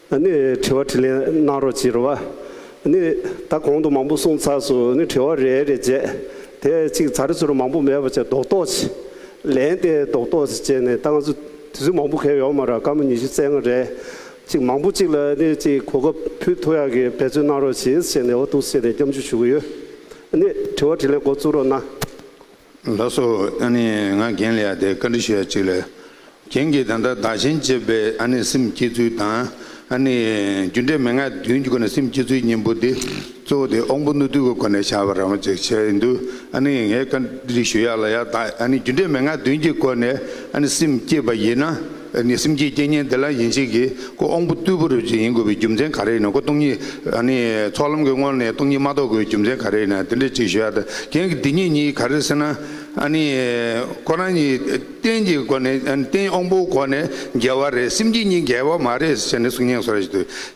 Speaker 2: ནི་དྲི་བ་དྲིས་ལན་གནང་རོགས་ཅེས་རོ། ནི་ད་གོང་དུ་མང་པོ་གསུངས་ཚར་སོ་ནི་དྲི་བ་རེ་རེ་བྱས། དེ་གཅིག་ཚར་ཚུར་མང་པོ་མེད་པ་བྱས་རྡོག་རྡོག་བྱས། ལན་དེ་རྡོག་རྡོག་བྱས་ནས་ད་ང་ཚོ་དུས་ཚོད་མང་པོ་ཁེལ་ཡོག་མ་ར་སྐར་མ་ཉི་ཤུ་རྩེ་ལྔ་རེད། ཅིག་མང་པོ་ཅིག་ལ་ནི་ཅིག་གོ་སྐབས་ཕུལ་ཐུག་ཡག་གི་འབད་བརྩོན་གནང་རོགས་ཞེས་བྱས་ནས་འོ་ཐུགས་བསད་ནས་སྐྱབས་འཇུག་ཞུ་གི་ཡོད། ནི་དྲི་བ་དྲིས་ལན་འགོ་བཙུགས་རོགས་གནང། ལགས་སོ།
Speaker 3: ཨ་ནི་ང་རྒན་ལ་དེ་བཀའ་འདྲི་ཞུ་ཡ་ཅིག་ལ། རྒན་གྱིས་ད་ལྟ་བདག་གཞན་གཅེས་པའི་ཨ་ནི་སེམས་བསྐྱེད་ཚུལ་དང་ཨ་ནི་རྒྱུ་འབྲས་མན་ངག་བདུན་གྱི་སྒོ་ནས་སེམས་བསྐྱེད་ཚུལ་གཉིས་པོ་དེ་གཙོ་བོ་དེ་དབང་པོ་རྣོ་རྟུལ་གྱི་སྒོ་ནས་བྱ་བ་རང་བ་ཅིག་བྱས་ཡོད་འདུག་ཨ་ནི་ངས་བཀའ་འདྲི་ཞུ་ཡ་ལ་ཡ་བདག་ཨ་ནི་རྒྱུ་འབྲས་མན་ངག་བདུན་གྱི་སྒོ་ནས་ཨ་ནི་སེམས་བསྐྱེད་པ་ཡིན་ན། ནི་སེམས་ཀྱི་རྐྱེན་ངན་དེ་ལ་ཡིན་བྱེད་ཀྱི་ཀོ་ཨོང་བུ་རྟུལ་བུ་རུ་ཡིན་དགོས་པའི་རྒྱུ་མཚན་ག་རེ་ཡིན་ནོ་ཀོ་སྟོང་ཉིད་ནི་ཚོགས་ལམ་གྱི་སྔོན་ནས་སྟོང་ཉིད་མ་རྟོགས་དགོས་པའི་རྒྱུ་མཚན་ག་རེ་ཡིན་ན་དེ་འདྲའི་ཅིག་ཤོས་ཨ་རྟགས་འདི་ཉིད་གཉིས་ག་རེ་ཟེར་ན་ནི་ཁོ་རང་གཉིས་རྟེན་གྱི་སྒོ་ནས་རྟེན་ཨོང་བུའི་སྒོ་ནས་འགལ་བ་རེད་སེམས་ཀྱི་གཉིས་འགལ་བ་མ་རེད་ཟེར་ནས་གསུང་སྙན་སོགས་རེ་ཞིག་དུ་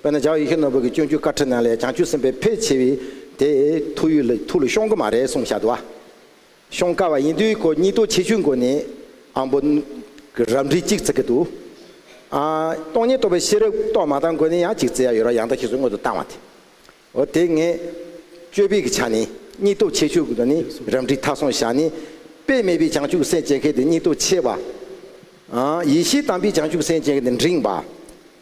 Speaker 1: དཔེར་ན་ཇའོ་ཡི་ཁེ་ནོར་བུ་གྱི་སྤྱོད་འཇུག་བཀའ་ཁྲིད་ནང་ལས་བྱང་ཆུབ་སེམས་དཔའི་ཕལ་ཆེ་བས་དེ་ཐུགས་ཡུལ་ལ་ཐུགས་ལ་ཤོང་གི་མ་རེད་གསུངས་བཞག་འདུག་ཤོང་དཀའ་བ་ཡིན་དུས་ཁོ་གཉིས་ལྟོ་ཆེ་ཆུང་སྒོ་ནས་ཨང་པོ་གི་རབ་འབྲི་གཅིག་བརྩི་གི་འདུག་སྟོང་ཉིད་རྟོགས་པའི་ཤེས་རབ་རྟོགས་མ་བཏང་སྒོ་ནས་ཡང་གཅིག་བརྩི་ཡ་ཡོད་རོགས་ཡང་དག་ཤེས་སུ་མངོན་དུ་བཏང་བ་དེ་འོ་དེ་ངས་དཔྱོད་ཕིག་གི་ཆ་ནས་གཉིས་ལྟོ་ཆེ་ཆུང་གི་ནི་རབ་འབྲི་མཐའ་སོང་བཞག་ནི་དཔེ་མེད་པའི་བྱང་ཆུབ་སེམས་བསྐྱེད་མཁན་དེ་གཉིས་ལྟོ་ཆེ་བ། ཡེ་ཤེས་དམ་པའི་བྱང་ཆུབ་སེམས་བསྐྱེད་མཁན་དེ་འབྲིང་བ།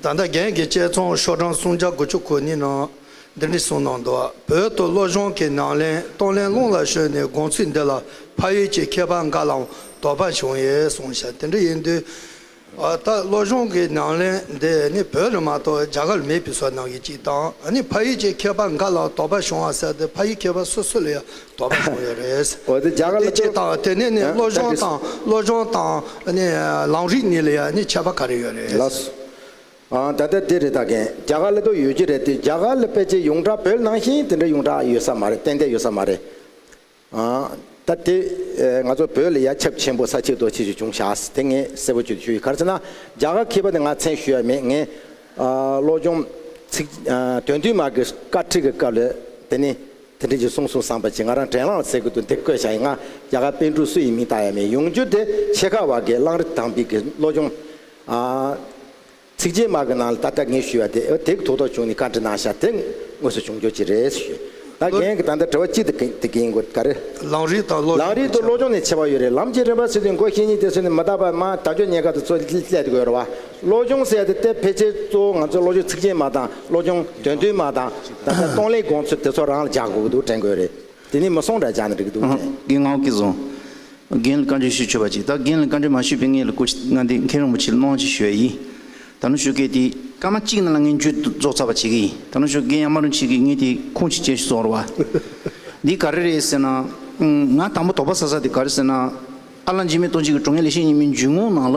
Speaker 4: ད་ལྟ་རྒན་གྱི་དཔྱད་རྩོམ་ཤོག་གྲངས་སུམ་བརྒྱ་དགུ་བཅུ་གོ་གཉིས་ནང་
Speaker 5: འདི་འདྲི་གསུངས་གནང་འདུག་བོད་དུ་བློ་སྦྱོང་གི་ནང་ལེན་གཏོང་ལེན་རླུང་ལ་ཞོན་ནས་དགོངས་ཚུལ་འདི་ལ་ཕ་ཡུལ་གྱི་མཁས་པ་འགའ་ལའང་དོགས་པ་བྱུང་ཡོད་གསུངས་ཤག་དེ་འདྲ་ཡིན་དུས་ད་ལྟ་བློ་སྦྱོང་གི་ནང་ལེན་འདི་ནི་བོད་རེད་མ་གཏོགས་རྒྱ་གར་མེད་པའི་སོགས་གནང་
Speaker 1: གི་གཅིག་དང་ཕ་ཡུལ་གྱི་མཁས་པ་འགའ་ལའང་དོགས་པ་བྱུང་བ་གསལ་ཏེ་ཕ་ཡུལ་མཁས་པ་སོ་སོ་ལ་ཡང་དོགས་པ་བྱུང་ཡོད་རེད། དེ་ཇི་ལྟ་བ་དེ་ནས་ནི་བློ་སྦྱོང་དང་བློ་
Speaker 5: སྦྱོང་དང་ནི་ལམ་རིགས་གཉིས་ལ་ཡང་ནི་ཁྱད་པ་ག་རེ་ཡོད་རེད།
Speaker 1: ལགས་སོ། ཨང་ད་ལྟ་དེ་རེད་ད་གན་རྒྱ་གར་ལ་དུ་ཡོད་ཀྱི་རེད་དེ་རྒྱ་གར་ལ་ཕལ་ཆེར་ཡོངས་གྲགས་བོད་ནང་བཞིན་དེ་འདྲ་ཡོངས་གྲགས་ཡོད་ས་མ་རེད་ཏན་ཏན་ཡོད་ས་མ་རེད། ཨང་ད་དེ་ང་ཚོ་བོད་ལ་ཡ་ཁྱབ་ཆེན་པོ་ས་ཆིག་རྡོ་ཆིག་ཅིག་བྱུང་བཞག་དེ་ངས་གསལ་པོ་བརྗོད་ཞུ་ཡི་ག་རེ་ཟེར་ན་རྒྱ་གར་མཁས་པ་དེ་ང་མཚན་ཞུ་ཡ་མེད་ངས་བློ་སྦྱོང་ཚིག་དོན་བསྟུད་མར་གྱི་བཀའ་ཁྲིད་ཀྱི་སྐབས་ལ་དེ་ནི། དེ་འབྲེལ་གྱི་གསུང་གསུང་བསམ་པ་གྱིས་ང་རང་དྲན་བླངས་ལ་ཚེ་སྐུད་དུ་འདིར་བཀོད་བྱ་ཡི་ང་རྒྱ་གར་པཎ་ཕྲུག་སུ་ཡིན་མིན་བརྟག་ཡ་མེད་ཡོང་རྒྱུ་དེ་ཆེ་ཁག་བར་གྱི་གླང་རི་དྭངས་བིག་གི་བློ་སྦྱོང། ཚིག་རྗེས་མ་གི་ནང་ལ་ད་ལྟ་ངས་ཞུས་བ་དེ་ཨོ་དེའི་ཐུགས་དོགས་བྱུང་ནས་བཀའ་འདྲི་གནང་ཤག་དེ་དངོས་སུ་བྱུང་འགྱོ་ཅི་རེད་ཞུས། ད་རྒན་གྱི་ད་ལྟ་དྲི་བ་གཅིག་དེ་གི་དེ་གི་ཡིན་གོ་ག་རེ། གླང་རི་དང་བློ་སྦྱོང་ནས་ཆེ་བ། ནས་ཆེ་བ་ཡོད་རེད་ལམ་གྱི་རིམ་པ་ཚུལ་དུ་མགོ་ཤེས་ཉིད་དེ་ཚུལ་ནི་མི་དག་པར་མང་དག་ཆོས་ཉན་ཁ་དང་ཚོ་སླད་དུ་དགོས་རེད་བ་བློ་སྦྱོང་ཟེར་ཡ་དེ་ལྟས་ཕལ་ཆེར་གཙོ་བོ་ང་ཚོ་བློ་སྦྱོང་ཚིག་རྗེས་མ་དང་བློ་སྦྱོང་དོན་བསྡུས་མ་དང། ད་ལྟ་སྟོང་ལས་དགོངས་ཚུལ་དེ་ཚོ་རང་ལ་བཞག་དགོས་ཀྱི་འདུག་དྲན་དགོས་རེད། དེ་ནས་མི་སོང་འདྲ་བཞག་ནས་འགྲིག་གི་འདུག་དྲན། རྒན་ངག་གིས་བཟང།
Speaker 4: རྒན་ལ་བཀའ་འདྲི་ཞུ་ཆོས་པ་ཅིག་ད་རྒན་ལ་བཀའ་འདྲི་མ་ཞུས་པའི་ངེད་ལ་སྐུ་ང་འདི་མཁན་རིན་པོ་ཆེ་ལ་སྣང་བ་ཅིག་ཞུ་ཡ་ཡིན། ད་ནུ་ཞོ་རྒན་དེ་སྐར་མ་གཅིག་ནང་ལ་ངེད་མཇུག་ཏུ་རྫོགས་ཚར་བ་བྱེད་ཀྱི་ཡིན་ད་ནུ་ཞོ་རྒན་ཡང་མ་རུང་བྱེད་ཀྱི་ངེད་དེ་ཁུངས་ཅིག་ཅན་ཞིག་བཟོ་རོགས་བ། འདི་ག་རེ་རེད་ཟེར་ན། ང་དང་པོ་དོགས་པ་ཟ་ས་དེ་ག་རེ་ཟེར་ན། ཨ་ལགས་འཇིགས་མེད་ལྟོ་འཇིགས་ཀྱི་གྲོང་ཁྱེར་ལེགས་བཤད་གཉིས་མའི་འཇུག་ངོགས་ནང་ལ།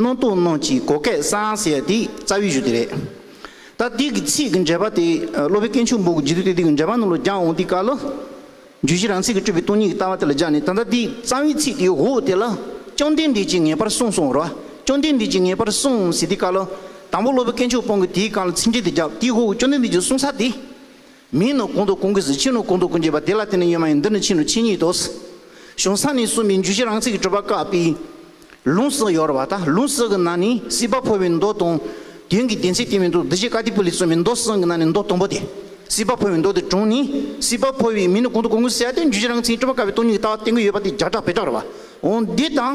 Speaker 4: སྣང་སྟོང་སྣང་གཅིག་གོ་སྐལ་བཟང་ཟེར་དེ་རྩ་བའི་གཞུ་དེ་རེད། ད་དེ་གི་ཚིག་གི་འགྲེལ་པ་དེ་སློབ་དཔོན་སྐྱེས་ཆུང་འབུམ་གྱི་རྗེས་མཐུད་དེ་དེ་གི་འགྲེལ་པ་རྣམས་ལ་སྦྱངས་འོང་དེ་ག་ལ། རྒྱུད་བཞི་རང་ཚིག་གི་སྤྲོས་པའི་སྟོང་ཉིད་ཀྱི་ལྟ་བ་དེ་ལ་སྦྱངས་ནས་ད་ལྟ་དེའི་རྩ་བའི་ཚིག་དེའི་འོག་དེ་ལ། བཅོམ་ལྡན་འདས་ཀྱིས་ངེས་པར་གསུངས་གསུངས་རོ། བཅོམ་ལྡན་འདས་ཀྱིས་ངེས་པར་གསུངས་ཟེར་དེ་ག་ལ། དང་པོ་སློབ་དཔོན་སྐྱེས་ཆུང་སྤོང་གིས་དེའི་གང་ལ་ཚིག་འགྲེལ་དེ་བརྒྱབ་དེའི་འོག་བཅོམ་ལྡན་འདས་ཀྱིས་གསུངས་ས་དེ། མིང་ནི་གུང་དོ་གུང་གིས་ཕྱིས་ནི་གུང་དོ་གུང་བྱས་པ་དེ་ལ་དེ་ནི་ཡོད་མ་ཡིན་འདི་ནི་ཕྱིས་ནི་ཕྱིས་ཉིད་དོ། གཞུང་ས་ནི་གསུམ་པའི་འཇུ་བྱེད་རང་ཚིག་གི་གྲུབ་པ་བཀག་པས། ལུང་སྲིད་ཡོར་བ་དང་ལུང་སྲིད་ཀྱི་ནང་ནི་སྲིད་པ་འཕོ་བའི་མདོ་དང། དོན་གྱི་བདེན་ཚིག་དེ་མི་འདུག་འདི་བཞི་ཀ་ཏི་པུ་ལི་གསུམ་པའི་མདོ་གསུམ་གྱི་ནང་ནས་མདོ་དང་པོ་སྟེ། སྲིད་པ་འཕོ་བའི་མདོ་དེ་དྲུང་ནི་སྲིད་པ་འཕོ་བའི་མིང་ནི་གུང་དོ་གུང་གིས་བསལ་ཏེ་འཇུ་བྱེད་རང་ཚིག་གི་གྲུབ་པ་བཀག་པའི་སྟོང་ཉིད་ཀྱི་ལྟ་བ་བསྟན་དགོས་ཡོད་པ་དེ་སྦྱར་གྲགས་བེད་གྲགས་རེད་བ། འོན་ཏེ་དང།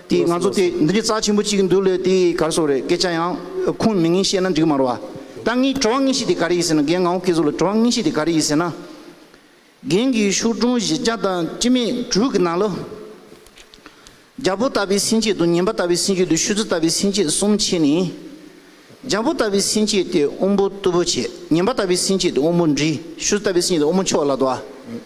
Speaker 4: དེས་ང་ཚོ་དེ་འདྲའི་རྩ་ཆེན་པོ་གཅིག་འདུག་ལོས་དེའི་གར་སོགས་རེད་སྐད་ཆ་ཡང་ཁུངས་མེད་ངེས་བཤད་ན་འགྲིག་མ་རོ། ད་ངས་བྲོ་བ་ངེས་ཤེས་དེ་ག་རེ་ཡིན་ཟེར་ན་རྒན་ངའོ་སྐད་གཟུགས་ལ་བྲོ་བ་ངེས་ཤེས་དེ་ག་རེ་ཡིན་ཟེར་ན། རྒན་གྱི་ཤོག་དྲུང་བཞི་བརྒྱ་དང་སྤྱི་མེད་དྲུག་གི་ནང་ལོ། རྒྱ་བོ་ལྟ་བུའི་སེམས་བསྐྱེད་དང་ཉན་པ་ལྟ་བུའི་སེམས་བསྐྱེད་དུ་བཤུ་ཚུལ་ལྟ་བུའི་སེམས་བསྐྱེད་གསུམ་མཆིས་ནས། རྒྱ་བོ་ལྟ་བུའི་སེམས་བསྐྱེད་དེ་དབོན་པོ་རྟུལ་པོ་བྱེད་ཉན་པ་ལྟ་བུའི་སེམས་བསྐྱེད་དེ་དབོན་པོ་འདྲི་བཤུ་ལྟ་བུའི་སེམས་བསྐྱེད་དེ་དབོན་པོ་མཆོག་ལ་དོ།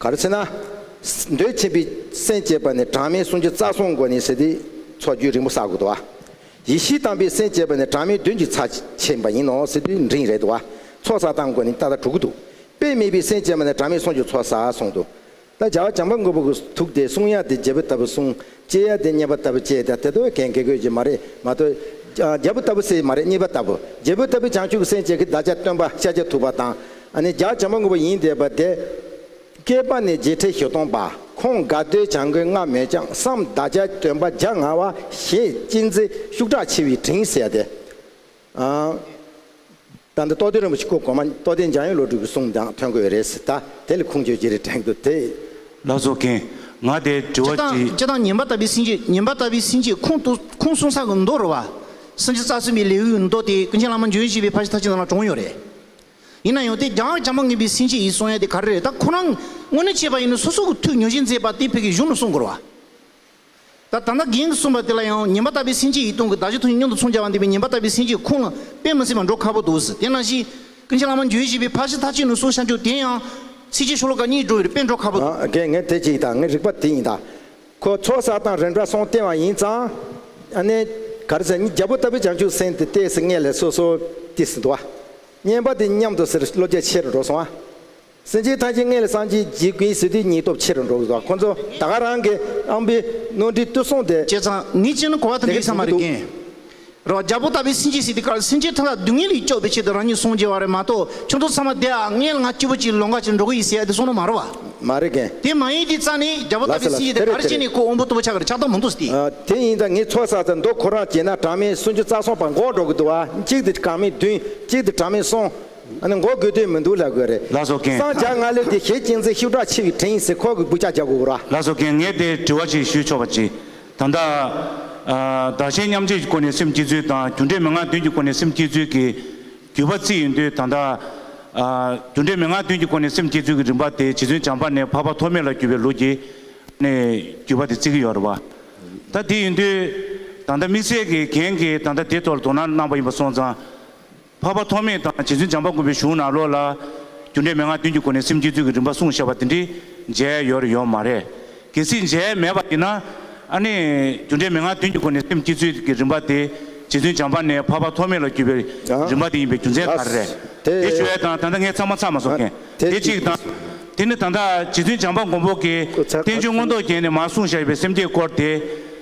Speaker 1: ག་རེ་ཚེ་ན། འདོད་ཆེན་པའི་སེམས་བསྐྱེད་པ་ནི་གྲངས་མེད་གསུང་རྒྱུན་རྩ་གསུམ་གོ་ནི་ཟེར་ཏེ། ཚོགས་རྒྱུན་རིང་པོ་བསགས་དགོས་དོ། ཡེ་ཤེས་དྭངས་པའི་སེམས་བསྐྱེད་པ་ནི་གྲངས་མེད་བདུན་གྱི་ཚ་ཆེན་པ་ཡིན་ནོ་ཟེར་ཏེ་འབྲིང་རེ་དོ། ཚོགས་བསགས་སྟངས་གོ་ནི་ཏག་ཏག་དྲུག་དུ། དཔེ་མེད་པའི་སེམས་བསྐྱེད་པ་ནི་གྲངས་མེད་གསུང་རྒྱུན་ཚོགས་བསགས་གསུང་དུ། ད་བྱ་བ་བྱང་པ་མགོན་པོ་གི་ཐུགས་ཏེ་གསུང་དབྱངས་ཏེ་རྒྱལ་པོ་ལྟ་བུ་གསུང། ལྕེ་ཡ་དེ་རྙེད་པ་ལྟ་བུ་ལྕེ་དེ་ལྟ་བུའི་གན་གི་གོས་ཀྱི་མ་རེད་མ་གཏོགས། རྒྱལ་པོ་ལྟ་བུ་སའི་མ་རེད་གཉིས་པ་ལྟ་བུ་རྒྱལ་པོའི་ལྟ་བུའི་བྱང་ཆུབ་སེམས་བསྐྱེད་ཀྱི་བདག་ཅག་སྟོན་པ་ཤཱཀྱ་ཐུབ་པ་དང། ནི་ལྗགས་བྱང་མ་དངོས་པོ་ཡིན་འདས་པ་དེ། བསྐལ་པ་ནི་བརྗེད་ཁྲི་བཞི་སྟོང་པ་
Speaker 6: ཁོང་དགའ་བདེའི་བྱང་གི་སྔ་མོའི་ལྕགས་བསམ་བདག་ཅག་སྟོན་པ་ལྗགས་ང་བ་ཞེས་གཅེས་འཛིན་ཤུགས་དྲག་ཆེ་བས་དྲིན་བསལ་ཏེ། ད་འདི་རྟོགས་ལྡན་རིན་པོ་ཆེ་སྐུ་གོང་མ་རྟོགས་ལྡན་འཇམ་དབྱངས་བློ་གྲོས་ཀྱི་གསུང་ཀྱང་ཐོན་དགོས་རེད་ཟེར་ད་དེ་ལ་ཁུངས་བཅོལ་ཅི་རེད་དྲན་རྒྱུ་དེ། བླ་རྫོགས་མཁན། ང་དེ་དྲི་བ་དྲིས། སྤྱི་དང་ཉན་པ་ལྟ་བུའི་སེམས་ཀྱིས་ཉན་པ་ལྟ་བུའི་སེམས་ཀྱིས་ཁུངས་
Speaker 4: གཏུགས་ཁུངས་གསུངས་ས་གི་མདོ་རུ་བ། སེམས་ཀྱི་རྩ་གསུམ་པའི་ལེའུའི་མདོ་དེ་ཀུན་མཁྱེན་བླ་མ་འབྱོན་བཞི་པའི་ཕ་ཞིག་ཐ་ཆེན་ནང་ལ་བྲོངས་ཡོད་རེད། ཡིན་ན་ཡང་དེ་རྒྱང་རྒྱང་མ་ངེས་པའི་སེམས་ཀྱིས་ཡིས་གསུངས་ཡ་དེ་ག་རེ་རེད་ད་ཁོ་རང་དངོས་གནས་བྱས་པ་ཡིན་ན་སོ་སོ་གི་ཐུགས་མྱོང་བཞིན་མཛད་པ་དེ་བོད་ཀྱི་གཞུང་ལ་གསུང་དགོས་ར། ད་ད་ལྟ་གིང་གིས་གསུངས་པ་དེ་ལ་ཡང་ཉན་པ་ལྟ་བུའི་སེམས་ཅན་ཡིད་གཏོང་གི་བདག་ཅག་ཐུགས་ཉིད་སྙོམས་དུ་མཚུངས་བྱ་བ་འདི་པའི་ཉན་པ་ལྟ་བུའི་སེམས་ཅན་ཁོང་ལ་དཔེ་མི་སྲིད་པར་འགྲོ་ཁག་པོ་འདུག་ཟེར་དེ་ན་གཞི། ཀུན་མཁྱེན་བླ་མ་འགྱོད་བཞི་པའི་ཕ་གཞི་ཐ་ཆད་ནུས་གསུངས་ཤར་འཇུག་དེ་ཡང། སྲིད་ཀྱི་ཆོ་ལོ་ཀ་གཉིས་འགྲོ་བའི་དཔེ་འགྲོ་ཁག་པོ། དགེ་བསྔལ་དེ་གཅིག་དང་
Speaker 1: ངའི་རིག་པ་དེ་ཡིན་ད། ཁོ་ཚོགས་བསགས་དང་རིམ་གྲོ་སོང་བསྟན་བ་ཡིན་ཙང། ནས། ག་རེ་ཟེར་ནི་རྒྱལ་པོ་ལྟ་བུའི་བྱང་ཆུབ་སེམས་དེ་ལྟས་སུ་ངེས་ལས་སོ་སོ་དེ་སྲིད་དུ་བ། ཉན་པ་དེ་མཉམ་དུ་ཟེར་བློ་རྒྱ་ཆེར་འགྲོ་སོང་བ། སེམས་ཅན་ཐམས་ཅད་མངལ་ལས་སངས་རྒྱས་ཀྱི་སྐུའི་ཟིལ་གྱིས་སྙིང་སྟོབས་ཆེ་རུ་འགྲོ་བའི་བར་ཁོ་ཚོ་ད་ག་རང་གི་ཨམ་བི་རྣོ་འབྲི་བཏུ་སོང་སྟེ། བྱས་ཙང་ངས་ཅི་ནི་གོ་བ་
Speaker 4: དང་འགལ་ས་མ་རེད་ཀིན། རོ་རྒྱ་པོ་ལྟ་བུའི་སེམས་ཅན་སྲིད་དེ་གར་སེམས་ཅན་ཐམས་ལ་སྡུག་བསྔལ་ལས་སྐྱོབ་པའི་ཆེད་དུ་རང་ཉིད་སངས་རྒྱས་བ་རེད་མ་གཏོགས་ཁྱོད་ཚོ་ཚང་མ་དེ་ཨ་མངལ་ང་སྐྱིད་པོ་ཅིག་ལོ་འགའ་
Speaker 1: ཅིག་འགྲོ་གི་ཡིན་ཟེར་ཡ་དེ་སོང་ན་མ་རེད་བ། མ་རེད་ཀིན། དེ་མ་ཡིན་དེ་ཙང་ནི་རྒྱ་པོ་ལ་ལྟ་བུའི་ལ་སེམས་ཅན་དེ་
Speaker 4: དེ་རེད་གར་དེ་སྐྱེས་ནས་རེད། ཁོ་འོམ་བུ་ལྟ་བུ་ཆགས་ཀིར་ཆགས་སྟངས་མང་འདུག་སྟེ། དེ་ཡིན་ཙང་ངས་ཚོད་ཟ་ཟ་འདུག་ཁོ་རང་བྱས་ན་གྲངས་མེད་སུན་ཅུ་རྩ་སོང་
Speaker 1: བར་འགོག་འགྲོ་གི་འདུག་བ་གཅིག་དེ་གྲངས་མེད་བདུན་གཅིག་དེ་གྲངས་མེད་གསུམ། ཨ་ནི་འགོག་དགོས་དོན་མི་འདུག་ལབ་དགོས་རེད། ལགས་སོ་རྒན། སངས་རྒྱ་མངའ་ལོས་དེ་ཞེས་ཅིང་ཚེ་ཤུགས་དྲག་ཆེ་བའི་དྲིན་ཡིན་ཟེར་ཁོག་གི་སྒུག་ཆ་རྒྱག་དགོས་ར། ལགས་སོ་རྒན་ངས་དེ་དྲི་བ་ཞིག་ཞུས་
Speaker 6: ཆོག་པ་ཅི། ད་ལྟ། དག་ཞན་མཉམ་བརྗེས་ཀྱི་སྐོར་ནས་སེམས་སྐྱིད་ཚུལ་དང་རྒྱུ་འབྲས་མི་མངའ་དོན་གྱི་སྐོར་ནས་སེམས་སྐྱིད་ཚུལ་གྱི། བརྒྱུད་པ་རྩིས་ཡིན་དུས་ད་ལྟ། རྒྱུ་འབྲས་མི་མངའ་དོན་གྱི་སྐོར་ནས་སེམས་སྐྱིད་ཚུལ་གྱི་རིམ་པ་དེ་བྱིས་ཚུན་བྱམས་པ་ནས་ཕ་ཕ་ཐོག་མེད་ལ་བརྒྱུད་པའི་ལུགས་ཀྱིས། ནས་བརྒྱུད་པ་དེ་རྩིས་ཀྱི་ཡོད་རེད་བ། ད་དེ་ཡིན་དུས། ད་ལྟ་དམིགས་བསལ་གྱིས་རྒན་གྱིས་ད་ལྟ་དེ་ཐོག་ལ་དོ་སྣང་གནང་པ་ཡིན་པ་སོང་ཙང། འཕགས་པ་ཐོགས་མེད་དང་རྗེ་བཙུན་འཇམ་དཔལ་མགོན་པོའི་གཞུང་ནང་ལོགས་ལ། རྒྱུ་འབྲས་མན་ངག་བདུན་གྱི་སྒོ་ནས་སེམས་བསྐྱེད་ཚུལ་གྱི་རིམ་པ་གསུངས་ཞེས་པ་འདི་འདྲི་མཇལ་ཡོད་ཡོད་མ་རེད། གལ་སྲིད་མཇལ་མེད་པ་ཡིན་ན། ཨ་ནི། རྒྱུ་འབྲས་མན་ངག་བདུན་གྱི་སྒོ་ནས་སེམས་བསྐྱེད་ཚུལ་གྱི་རིམ་པ་དེ། རྗེ་བཙུན་འཇམ་དཔལ་ནས་འཕགས་པ་ཐོགས་མེད་ལ་བརྒྱུད་པའི་རིམ་པ་དེ་ཡིན་པའི་རྒྱུ་མཚན་ག་རེ་རེད། དེ་ཞུ་བའི་དང་ད་ལྟ་ངས་ཚང་མ་ཚར་མ་སོང་མཁན་དེ་གཅིག་དང། དེ་ནི་ད་ལྟ་རྗེ་བཙུན་འཇམ་དཔལ་མགོན་པོ་གིས་བསྟན་བཅོས་མངོན་རྟོགས་རྒྱན་ནས་མར་གསུངས་བཞག་ཡོད་པའི་སེམས་བསྐྱེད་སྐོར་དེ།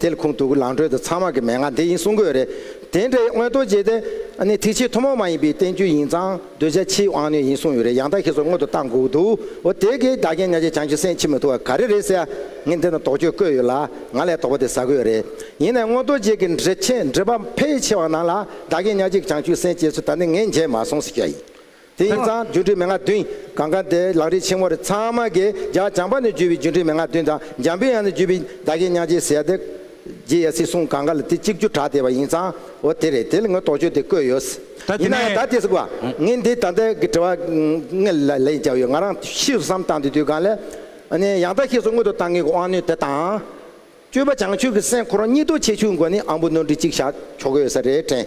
Speaker 1: དེ་ལ་ཁུངས་གཏུགས་ལངས་དྲོད་དུ་ཚང་མ་གི་མན་ངག་འདི་ཡིན་གསུང་དགོས་རེད། དེ་འདྲ་ཡི་སྔོན་རྡོ་རྗེ་དེ། ནི་ཐིག་ཕྱིའི་ཐུན་མོང་མ་ཡིན་པའི་བསྟན་རྒྱུད་ཡིན་ཙང་གདུལ་བྱ་ཕྱིའི་དབང་རྣོན་ཡིན་གསུང་ཡོད་རེད་ཡང་དག་ཁྱེད་ཚོ་སྔོན་དུ་བཏང་དགོས་འདུག་འོ་དེ་གའི་བདག་རྐྱེན་ཉག་ཅིག་བྱང་ཆུབ་སེམས་འཆི་མི་ཐུབ་བ་ག་རེ་རེད་ཟེར་ཡ། ངས་འདི་ན་དོགས་གཅོད་བཀོད་ཡོད་ལ་ང་ལས་དོགས་པ་དེ་ཟ་དགོས་རེད། ཡིན་ནའི་སྔོན་རྡོ་རྗེ་གི་འགྲེལ་ཆེན་འགྲེལ་པ་ཕལ་ཆེ་བ་ནང་ལ་བདག་རྐྱེན་ཉག་ཅིག་བྱང་ཆུབ་སེམས་བསྐྱེད་ཚུལ་ད་ནི་ངས་མཇལ་མ་སོང་ཟེར་རྒྱུ་ཡིན། དེ་ཡིན་ཙང་སྒྱུ་འཕྲུལ་མན་ངག་བདུན་གང་གཱ་དེ་ལག་རིས་ཆེན་མོ་རེ་ཚང་མ་གི་རྒྱ་བྱང་པ་ནས་བརྒྱུད་པའི་སྒྱུ་འཕྲུལ་མན་ངག་བདུན་དང་འཇམ་པའི་དབྱངས་ནས་བརྒྱུད་པའི་བདག་གི་སྙག་རྗེའི་ཟེར་ཏེ། རྗེ་ཡེ་སི་གསུང་གང་གཱ་ལ་དེ་གཅིག་བརྒྱུད་གྲགས་བསྡད་པ་ཡིན་ཙང་འོ་དེ་རེད་དེ་ལ་ངོས་དོགས་གཅོད་དེ་བཀོད་ཡོད། ད་དེ་ཡིན་ནའང་ནས། ད་དེ་ཟེར་དགོས་ཨ། ངས་འདི་ད་ལྟའི་གི་དྲི་བ་ལྔ་ལ་ལན་བརྒྱབ་ཡོད་ང་རང་ཤེས་སུ་བསམ་བཏང་དུས་དུས་གང་ལས། ཨ་ནི་ཡང་དག་ཤེས་སུ་མངོན་དུ་བཏང་མཁན་གྱི་དབང་ནུས་དེ་དང། སྤྱོད་པ་བྱང་ཆུབ་ཀྱི་སེམས་ཁོ་རང་གཉིས་རྡོ་ཆས་ཆུ་འགོ་ནས་ཨང་བུ་སྣོན་འཕྲི་གཅིག་བཞག་ཆོག་གི་ཡོད་ས་རེད་དྲན།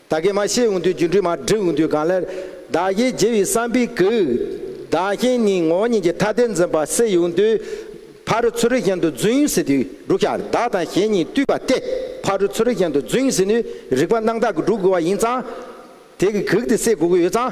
Speaker 1: ད་གེ་མ་བཤད་འོང་དུས་སྒྱུ་འཕྲུལ་མ་བསྒྲིགས་འོང་དུས་གང་སླད། བདག་གཞན་བརྗེ་བའི་བསམ་པས་གུས། བདག་གཞན་གཉིས་ངོ་གཉིས་ཀྱི་ཐ་དད་འཛིན་པ་བསལ་ཡོང་དུས། ཕ་རུ་ཚུ་རུ་གཞན་དུ་བརྫུན་ཟེར་དུས་འབྲུག་ཤ་བདག་དང་གཞན་གཉིས་བཏུས་པ་སྟེ་ཕ་རུ་ཚུ་རུ་གཞན་དུ་བརྫུན་ཟེར་ནུས་རིག་པ་སྣང་བདག་གིས་བསྒྲུབ་དགོས་པ་ཡིན་ཙང། དེ་གི་གུག་དེ་བསལ་དགོས་ཀྱི་ཡོད་ཙང།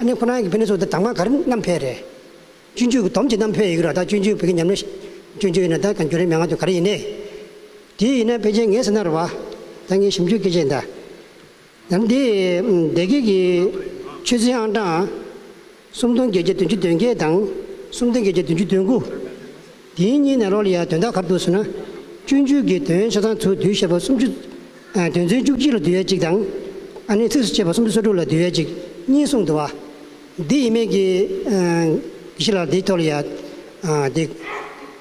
Speaker 7: ཨ་ནེ་ཁོ་ན་གི་ཕན་ནུས་སོགས་དང་མ་ག་རེ་རྣམ་འཕེལ་རེད། སྤྱོད་འཇུག་གི་དོམ་གྱི་རྣམ་འཕེལ་ཡི་གེ་རོ་དང་སྤྱོད་འཇུག་བོད་ཀྱི་ཉམས་ལེན། སྤྱོད་འཇུག་ཡིན་ན་ད་གང་འགྱུར་རེ་མན་ངག་དུ་ག་རེ་ཡིན་ནའི། དེ་ཡིན་ན་ཕལ་ཆེར་ངའི་སེམས་ན་རུ་བ། ད་ངའི་ཞིབ་འཇུག་སྐད་ཆའི་ཟླ། ཡང་འདི། སྡེ་དགེ་གི། ཆོས་ཚན་ཨང་གྲངས། སུམ་སྟོང་བརྒྱད་བརྒྱ་བདུན་ཅུ་དོན་བརྒྱད་དང། སུམ་སྟོང་བརྒྱད་བརྒྱ་བདུན་ཅུ་དོན་དགུ། དེའི་སྙིང་ནས་རོ་ལི་ཡ་དོན་དག་ཁ་བསྡུར་བྱས་ན། སྤྱོད་འཇུག་གི་དོན་ཆ་ཚང་ཚུལ་བསྡུས་བཤད་པ་སུམ་ཅུ། དོན་ཚན་བཅུ་གཅིག་ལ་བསྡུས་ཡས་གཅིག་དང། ཨ་ནི་ཚིགས་སུ་བཅད་པ་སུམ་ཅུ་སོ་དྲུག་ལ་བསྡུས་ཡས་གཅིག་གཉིས་གསུངས་འདུག་བ། འདི་ཡིན་མིན་གྱི། གཞི་ལ་འདི་ཐོ་ལི་ཡ། འདི།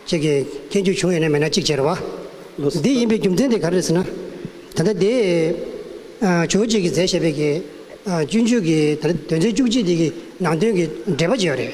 Speaker 7: བཅས་ཀྱི་མཁན་རྒྱུད་བྱུང་ཡོད་ན་མེད་ན་གཅིག་བྱེད་རོགས། འདི་ཡིན་པའི་རྒྱུ་མཚན་དེ་ག་རེད་ཟེར་ན། ད་ལྟ་འདི། ཇོ་ཇིག་གིས་མཛད་བཞེད་པའི། སྤྱོད་འཇུག་གི་དོན་ཚན་བཅུ་གཅིག་འདི་གི་ནང་དོན་གྱི་འགྲེལ་པ་བྱས་ཡོད་རེད།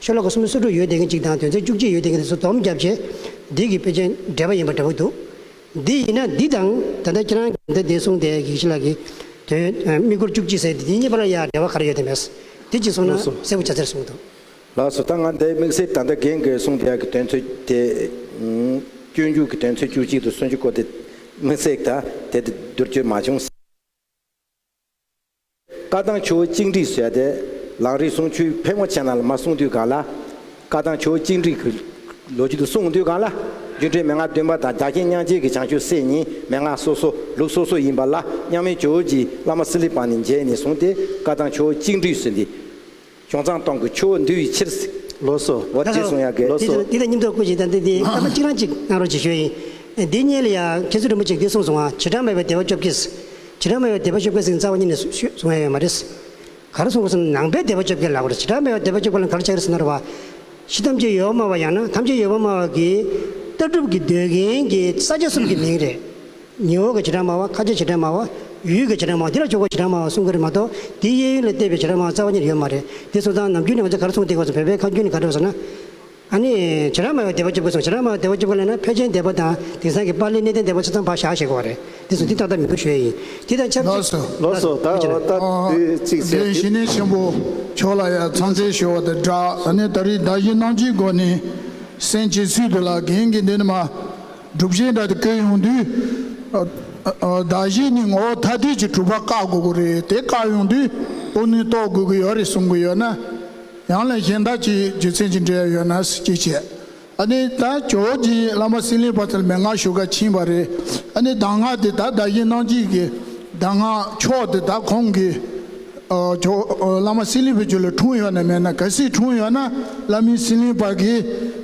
Speaker 7: ཆོས་ལོ་གོ་སུམ་ཅུ་སོ་དྲུག་ཡོལ་འདེབས་མཁན་གཅིག་དང་དོན་ཚན་བཅུ་གཅིག་ཡོལ་འདེབས་མཁན་གཉིས་སུ་བསྡོམས་བརྒྱབ་རྗེས། འདི་གི་དཔེ་ཆའི་འགྲེལ་པ་ཡིན་པ་འདྲ་པོ་འདུག་འདི་ཡིན་ན་འདི་དང་ད་ལྟ་ཁྱེད་རང་གིས་འདི་འདི་གསུངས་ཏེ་གེགས་ཞི་ལགས་ཀྱིས། དོན་དམིགས་སྐོར་བཅུ་གཅིག་ཟེར་དེ་དེ་གཉིས་བར་ཡ་འབྲེལ་བ་ག་རེ་ཡོད་དེ་མེད། དེ་གཅིག་གསུངས་ན་ལོགས་སུ། གསལ་པོ་བྱ་ཟེར་གསུངས་འདུག། ལགས་སོ་ད་ང་
Speaker 1: འདི་དམིགས་བསལ་ད་ལྟ་རྒན་གོས་གསུངས་དེ་ཡ་གི་དོན་ཚོད་དེ། སྐྱོན་རྒྱུགས་ཀྱི་དོན་ཚོད་བཅུ་གཅིག་དང་སུམ་ཅུ་སྐོར་དེ་དམིགས་བསལ་ད་དེ་དེ་བསྡུར་བཅོས་མ་བྱུང། བཀའ་ཐང་ཆུ་བོ་གཅིག་འགྲིག་བཟོས་ཏེ་ལང་རིགས་སྲུང་ཆུའི་ཕལ་མོ་ཆེ་ནང་ལ་མ་སྲུང་དུས་གང་ལ། བཀའ་ཐང་ཆུ་བོ་གཅིག་འགྲིག་གི་ལོ་རྒྱུས་དུ་སྲུང་དུས་གང་ལ། སྒྱུ་འཕྲུལ་མན་ངག་བདུན་པ་དང་རྒྱ་ཁྱི་སྙང་རྗེ་གི་བྱང་ཆུབ་སེམས་གཉིས་མན་ངག་སོ་སོ་ལུགས་སོ་སོ་ཡིན་པ་ལ་སྙང་མེ་ཇོ་བོ་རྗེའི་བླ་མ་སི་ལི་པང་ནས་མཇལ་ནས་བཟུང་སྟེ་བཀའ་ཐང་ཆུ་བོ་གཅིག་འགྲིག་བཟོས་འདི་ཁྱུང་ཚང་སྟོང་གི་ཆུ་བོ་འདུལ་བའི་ཕྱིར། ལོ་སོ། བ་ལྟའི་
Speaker 2: གསུང་དབྱངས་ཀྱིས། ལོ་
Speaker 1: སོ། འདི་ལ་སྙིང་སྟོབས་དཀོན་ཞིང་
Speaker 7: དང་བསྟུན་ཏེ་སྐར་མ་གཅིག་རང་གཅིག་གནང་རོགས་ཞེས་ཞུ་ཡིན། འདི་སྙན་ལ་ཡང་མཁན་ཟུར་རིན་པོ་ཆེས་འདི་གསུངས་སོང་ང་བྱེ་བྲག་མེད་པའི་བདེ་བ་སྐྱོབ་ཀྱིས། བྱེ་བྲག་མེད་པའི་བདེ་བ་སྐྱོབ་མཁན་ཟིང་རྩ་བ་གཉིས་ནས་ཞུས་གསུང་ཡ་ཡོད་མ་རེད། ག་རེ་གསུང་སོང་ནང་པའི་བདེ་བ་སྐྱོབ་མཁན་ལ་གོ་བྱེ་བྲག་མེད་པའི་བདེ་བ་སྐྱོབ་མཁན་ལ་ག་རེ་བྱ་གི་རེད་ཟེར་ན་རེ་བ། ཤི་ཐམས་ཅད་ཡོད་བ་སྨྲ་བ་ཡང་ན་ཐམས་ཅད་ཡོད་བ་སྨྲ་བ་གིས། ལྟ་གྲུབ་ཀྱི་འདོད་མཁན་གྱི་ས་ཆ་གསུམ་གྱི་མིང་རེད། ཉི་འོག་གི་བྱེ་བྲག་སྨྲ་བ་ཁ་ཆེའི་བྱེ་བྲག་སྨྲ་བ། ཡུལ་གྱི་བྱེ་བྲག་སྨྲ་བ་འདི་ལ་ཆོས་སྐོར་བྱེ་བྲག་སྨྲ་བ་གསུམ་ཀ་རེད་མ་གཏོགས་འདིའི་གཡས་གཡོན་ལས་བལྟས་པའི་བྱེ་བྲག་སྨྲ་བ་རྩ་བ་ཉིད་ཡོད་མ་རེད་དེ་སོང་ཙང་ནམ་རྒྱུན་ནས་ང་ཚོ་གར་སོང་སྟེ་སྐབས་སུ་བོད་པའི་ཁ་རྒྱུན་ནི་ག་རེད་བཟོ་ན། ཨ་ནི། བྱེ་བྲག་སྨྲ་བའི་སྡེ་བ་བཅུ་དགོས་སམ་བྱེ་བྲག་སྨྲ་བའི་སྡེ་བ་བཅུ་ཀ་ལས་ན་ཕལ་ཆེན་སྡེ་བ་དང་དེང་སང་གི་པར་ལིའི་གནས་བརྟན་སྡེ་བ་ཆ་ཚང་བག་ཞག་ཞེས་གོ་བ་རེད་དེ་སོང་འདི་ཏག་ཏག་མི་འགྲོ་ཞོལ་ཡིན་དེ་དང་ཆབས་ཅིག། ལོགས་སུ་ད་འོ་
Speaker 2: ད་དུས་གཅིག་བྱས་འདིར་ཞི་གནས་ཆེན་པོ་
Speaker 8: མཆོག་ལ་ཡང་ཚང་བརྩེ་ཞུ་བ་དང་སྦྲགས། ད་ནི་ད་རིས་ད་གཞི་སྣང་བཅུའི་སྒོ་ནས། སེམས་ཀྱི་ཚུལ་དུ་ལ་གིང་གིས་འདི་ནི་མ། སྒྲུབ་གཞས་འདྲ་དེ་བཀོད་ཡོང་དུས། བརྡ་གཞས་ནི་ངོ་བོ་ཐ་དད་ཀྱི་གྲུབ་པ་བཀག་དགོས་ཀྱི་རེད་དེ་བཀག་ཡོང་དུས་དཔུང་ནུས་གཏོགས་དགོས་ཀྱི་ཡོད་རེད་གསུང་གི་ཡོད་ན། ཡང་ལས་གཞན་དག་གི་རྒྱུ་མཚན་གྱི་འབྲེལ་ཡོད་ན་གཟིགས་གཅིག་བྱས། ཨ་ནི་ད་ཇོ་བོ་རྗེའི་བླ་མ་སྲིན་ལེགས་པ་ཐལ་མེད་སྔ་ཞུ་ག་ཕྱིན་པ་རེད། ཨ་ནི་གདམས་ངག་དེ་དག་བརྡ་གཞས་ནང་བྲིས་ཀྱི་གདམས་ངག་ཕྱོགས་དེ་དག་ཁོང་གི། ཇོ་བོ་བླ་མ་སྲིན་ལེགས་པའི་རྒྱུད་ལ་འཁྲུངས་ཡོད་ནས་མེད་ན་ག་སྲིད་འཁྲུངས་ཡོད་ན་བླ་མའི་སྲིན་ལེགས་པ་གི།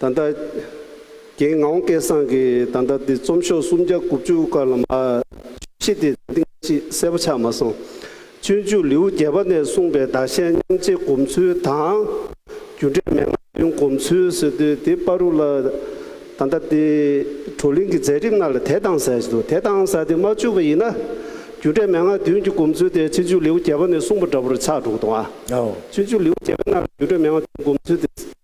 Speaker 2: ད་ལྟ། རྒན་ངའོ་སྐལ་བཟང་གིས་ད་ལྟ་འདི་རྩོམ་ཤོག་སུམ་བརྒྱ་དགུ་བཅུ་དཀར་ལམ་ཨ། ཤེས་ཏེ་ད་ཐེངས་ཅི་གསལ་པོ་ཆགས་མ་སོང། སྤྱོད་འཇུག་ལེའུ་བརྒྱད་པ་ནས་གསུངས་པའི་བདག་གཞན་མཉམ་བརྗེ་སྒོམ་ཚུལ་དང། རྒྱུ་འབྲས་མན་ངག་བདུན་སྒོམ་ཚུལ་སོད་དུས་དེ་དཔའ་རུ་ལ། ད་ལྟ་འདི། བགྲོ་གླེང་གི་མཛད་རིམ་ནང་ལ་དེ་དང་ཟེར་གྱི་འདུག་དེ་དང་ཟེར་ཏེ་མ་བཅུག་པ་ཡིན་ན། རྒྱུ་འབྲས་མན་ངག་བདུན་གྱི་སྒོམ་ཚུལ་དེ་སྤྱོད་འཇུག་ལེའུ་བརྒྱད་པ་ནས་གསུངས་པ་འདྲ་པོ་རུ་ཆགས་འགྲོ་གི་འདུག་ཨ། སྤྱོད་འཇུག་ལེའུ་བརྒྱད་པའི་ནང་ལ་རྒྱུ་འབྲས་མན་ངག་བདུན་སྒོམ་ཚུལ་དེ།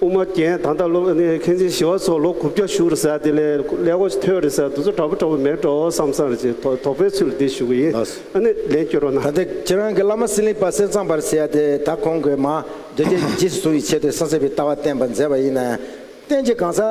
Speaker 2: དབུ་མ་རྒྱན་དང་དང་ལོ་ནས་མཁན་ཆེན་ཞི་བ་སོགས་ལོ་དགུ་བརྒྱ་བཞུགས་རེ་ཟ་དེ་ལས་ཀླད་ཀོ་ཐོད་རེ་ཟ་དུ་ཚོད་དྲག་པོ་དྲག་པོ་མེད་འགྲོ་བསམ་བསམ་རེ་བྱེད་དོགས་པའི་ཚུལ་འདི་ཞུ་གི་ཡིན་ཨ་ནི་ལན་བསྐྱོར་བ་ན། ད་ལྟ་ཁྱེད་རང་གི་བླ་
Speaker 1: མ་སྲིན་ལིང་པ་གསེར་ཚང་བར་ཟེར་ཡ་དེ་ད་གོང་གི་མ་འདོད་རྒྱལ་གྱི་རྗེས་སུ་གཟུང་བའི་ཆེད་དུ་གསང་ཟིན་པའི་ལྟ་བ་བསྟན་པར་མཛད་པ་ཡིན་ན། བསྟན་བྱའི་གང་ཟག།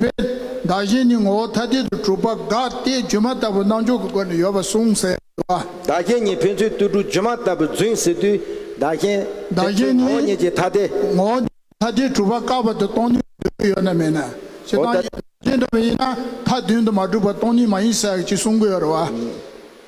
Speaker 8: པས། བདག་གཞན་གཉིས་ངོ་བོ་ཐ་དད་དུ་གྲུབ་པ་དགག་སྟེ་སྒྱུ་མ་ལྟ་བུ་སྣང་འཇོག་གི་སྒོ་ནས་ཡོད་པར་གསུངས་ཟེར་བ། བདག་གཞན་གཉིས་
Speaker 1: ཕན་ཚུན་ལྟོས་གྲུབ་སྒྱུ་མ་ལྟ་བུར་རྫུན་ཟེར་དུས། བདག་
Speaker 8: གཞན། བདག་
Speaker 1: གཞན་གཉིས། ངོ་
Speaker 8: བོ་ཉིད་ཀྱིས་ཐ་དད། ངོ་བོ་ཐ་དད་གྲུབ་པ་
Speaker 1: བཀག་པ་
Speaker 8: དེ་སྟོང་ཉིད་དུ་འགྱུར་ཡོད་ན་མེད་ན། ཞེ་སྡང་ཡིན། ཅི་འདྲ་བ་ཡིན་ན་མཐའ་བདུན་དུ་མ་གྲུབ་པ་སྟོང་ཉིད་མ་ཡིན་ཟེར་ཡག་ཅེས་གསུང་གི་ཡོད་རེད་བ།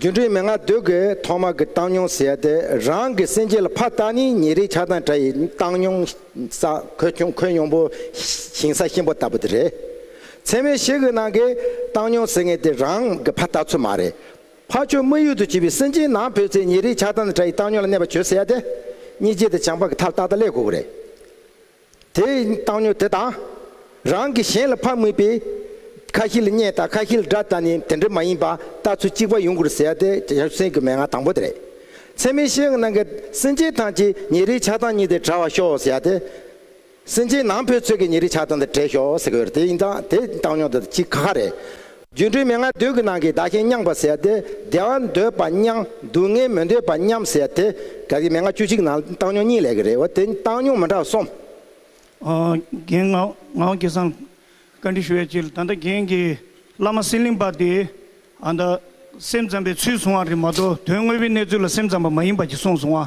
Speaker 5: རྒྱུ་འབྲས་མན་ངག་ཟློས་གར་ཐོག་མ་གི་བཏང་སྙོང་ཟེར་ཏེ་རང་གི་སེམས་ཅན་ལ་ཕ་རྟགས་ནི་ཉིན་རེའི་ཆགས་སྡང་དགྲ་ཡི་བཏང་སྙོང་ས་ཁོད་ཁྱུང་ཁོད་སྙོང་པོ་ཞིང་ས་གཤིན་པོ་ལྟ་བུ་དེ་རེད། ཚད་མའི་གཞི་གི་ནང་གི་བཏང་སྙོང་ཟེར་ངེས་དེ་རང་གི་ཕ་རྟགས་ཚུལ་མ་རེད། ཕ་ཆོས་དམིགས་ཡུལ་དུ་བྱས་པའི་སེམས་ཅན་ནང་འཕོས་ཚེ་ཉིན་རེའི་ཆགས་སྡང་དང་དགྲ་ཡི་བཏང་སྙོང་ལ་གནས་པ་བྱོས་ཟེར་ཏེ། གཉིས་རྗེས་དང་བྱང་འཕགས་ཀྱི་མཐར་རྟགས་དང་ལས་གོ་གི་རེད། དེ་ཡི་བཏང་སྙོ་དེ་དང། རང་གིས་གཞན་ལ་ཕ་དམིགས་པས། ཁ་བཞི་ལ་བསྙད་དང་ཁ་བཞི་ལ་སྒྲ་དང་ནི་དེ་འདྲ་མ་ཡིན་པ་ལྟ་ཚུལ་གཅིག་པ་ཡོང་དགོས་ཟེར་ཡ་དེ་གཞན་སེམས་ཀྱི་མན་ངག་དང་པོ་དེ་རེད། ཚད་མའི་ཤེས་ཡོན་གནང་མཁན་སེམས་ཅན་ཐམས་ཅད་ཉིན་རེའི་ཆགས་སྡང་གཉིས་དེ་བྲལ་བར་ཤོག་ཟེར་ཡ་དེ། སེམས་ཅན་ནང་ཕོའི་ཚོད་ཀྱི་ཉིན་རེའི་ཆགས་སྡང་དེ་བྲལ་ཤོག་ཟེར་དགོས་རེད་དེ་ཡི་དང་དེ་བཏང་སྙོ་དེ་དང་གཅིག་ག་ག་རེད། སྒྱུ་འཕྲུལ་མན་ངག་མདོས་ཀྱི་ནང་གི་བདག་གཞན་མཉམ་པར་ཟད་དེ་བདེ་བ་འདོད་པ་མཉམ་སྡུག་བསྔལ་མི་འདོད་པ་མཉམ་ཟད་དེ་དག་གི་མན་ངག་བཅུ་གཅིག་ནང་བཏང་སྙོམས་གཉིས་ལས་ཀྱི་རེ་བ་དེ་བཏང་སྙོམས་མི་འདྲ་བ་གསུམ། རྒན་
Speaker 9: ངག་སྐལ་བཟང་བཀའ་འདྲི་ཞུ་བའི་ཕྱིར་ད་ལྟ་རྒན་གྱིས་བླ་མ་སེང་གླིང་པ་དེས་ཨ་མདའ་སེམས་ཙམ་པའི་ཚུལ་བཟུང་བ་རེད་མ་གཏོགས་དོན་དངོས་པོའི་གནས་ཚུལ་ལ་སེམས་ཙམ་པ་མ་ཡིན་པ་གྱི་གསུངས་སོང་བ་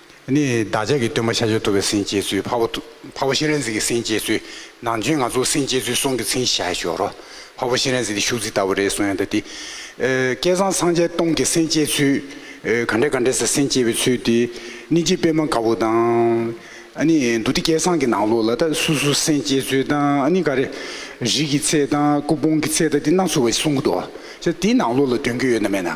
Speaker 10: ནི་བདག་ཅག་གི་སྟོན་པ་ཤཱ་ཀྱ་ཐུབ་པའི་སྲིན་སྐྱེས་ཚུལ་ཕ་བོ་ཕ་བོ་ཤེས་རན་གཟིགས་ཀྱི་སྲིན་སྐྱེས་ཚུལ་ནང་བྱོན་ང་ཚོ་སྲིན་སྐྱེས་ཚུལ་གསུང་གི་ཚིག་བཞག་ཞོག་རོ། ཕ་བོ་ཤེས་རན་གཟིགས་འདི་ཤུག་རྫི་ལྟ་བུ་རེད་གསུང་ཡང་འདི། སྐལ་བཟང་སངས་རྒྱས་སྟོང་གི་སྲིན་སྐྱེས་ཚུལ། ག་འདྲས་ག་འདྲས་སེ་སྲིན་སྐྱེས་པའི་ཚུལ་འདི། གནིས་འཇིག་པད་མ་དཀར་པོ་དང། ནི་འདུ་སྡེ་སྐལ་བཟང་གི་ནང་ལོགས་ལ་ད་སུ་སུ་སྲིན་སྐྱེས་ཚུལ་དང་ནི་ག་རེ། རིགས་ཀྱི་ཚེ་དང་སྐུ་ཕུང་གི་ཚེ་དང་འདི་སྣ་ཚོགས་པའི་གསུང་གི་འདུག་ཨ། ཅེ་དེའི་ནང་ལོགས་ལ་འདོན་རྒྱུ་ཡོད་ན་མེད་ན།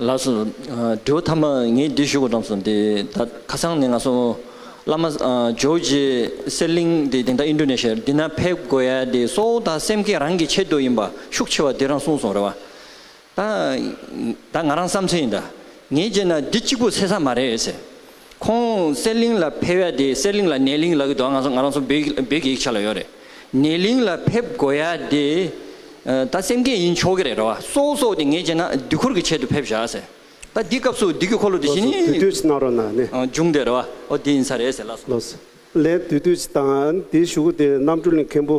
Speaker 11: ལགས་སོ། འབྲས་བུ་ཐ་མ་ངས་འདི་ཞུ་དགོས་བྲམ་སོ་འདི་ད་ཁ་སང་ནས་ང་སོང་བླ་མ་ཇོ་བོ་རྗེ་གསེར་གླིང་འདི་དེང་ད་ཨིན་ཏྲོ་ནེ་ཤཱི་ཡར་འདི་ན་ཕེབས་དགོས་ཡ་འདི་སོ་ད་སེམས་ཁེ་རང་གི་ཆེད་དུ་ཡིན་པ་ཤུགས་ཆེ་བ་འདི་རང་གསུངས་སོང་རེད་བ། ད་ད་ང་རང་བསམ་ཚུལ་ཡིན་དཱ། ངས་བརྗོད་ན་འདི་གཅིག་པུ་ཟེར་ས་མ་རེད་ཟེར། ཁོང་གསེར་གླིང་ལ་ཕེབས་ཡ་དེ་གསེར་གླིང་ལ་ནས་གླིང་ལག་གི་འདུག་ང་ང་རང་ཚོ་བོད་བོད་ཀྱི་ཡིག་ཆ་ལ་ཡོད་རེད། ནས་གླིང་ལ་ཕེབས་དགོས་ཡ་དེ། ད་སེམས་སྐད་ཡིན་ཆོག་གི་རེད་རེད་བ། སོག་སོག་དེ་ངས་བརྗོད་ན་དུས་འཁོར་གྱི་ཆེད་དུ་ཕེབས་ཞག་ཟེར། ད་འདི་སྐབས་སུ་འདི་གི་འཁོར་ལོ་དེ་བཞིན་ནི། ལོ་སུ་དུས་དུས་ཅི་གནང་རོགས་ན་ནི།
Speaker 2: འབྱུང་འདོད་རེད་བ། ཨོ་དེ་
Speaker 11: ཡིན་ས་རེད་ཟེར་ལ་སོང། ལོ་སུ་ལན་
Speaker 2: དུས་དུས་ཅི་གནང་ཨ་ནི་དེ་ཞུ་གི་དེ་རྣམ་སྤྲུལ་ལས་མཁན་པོ།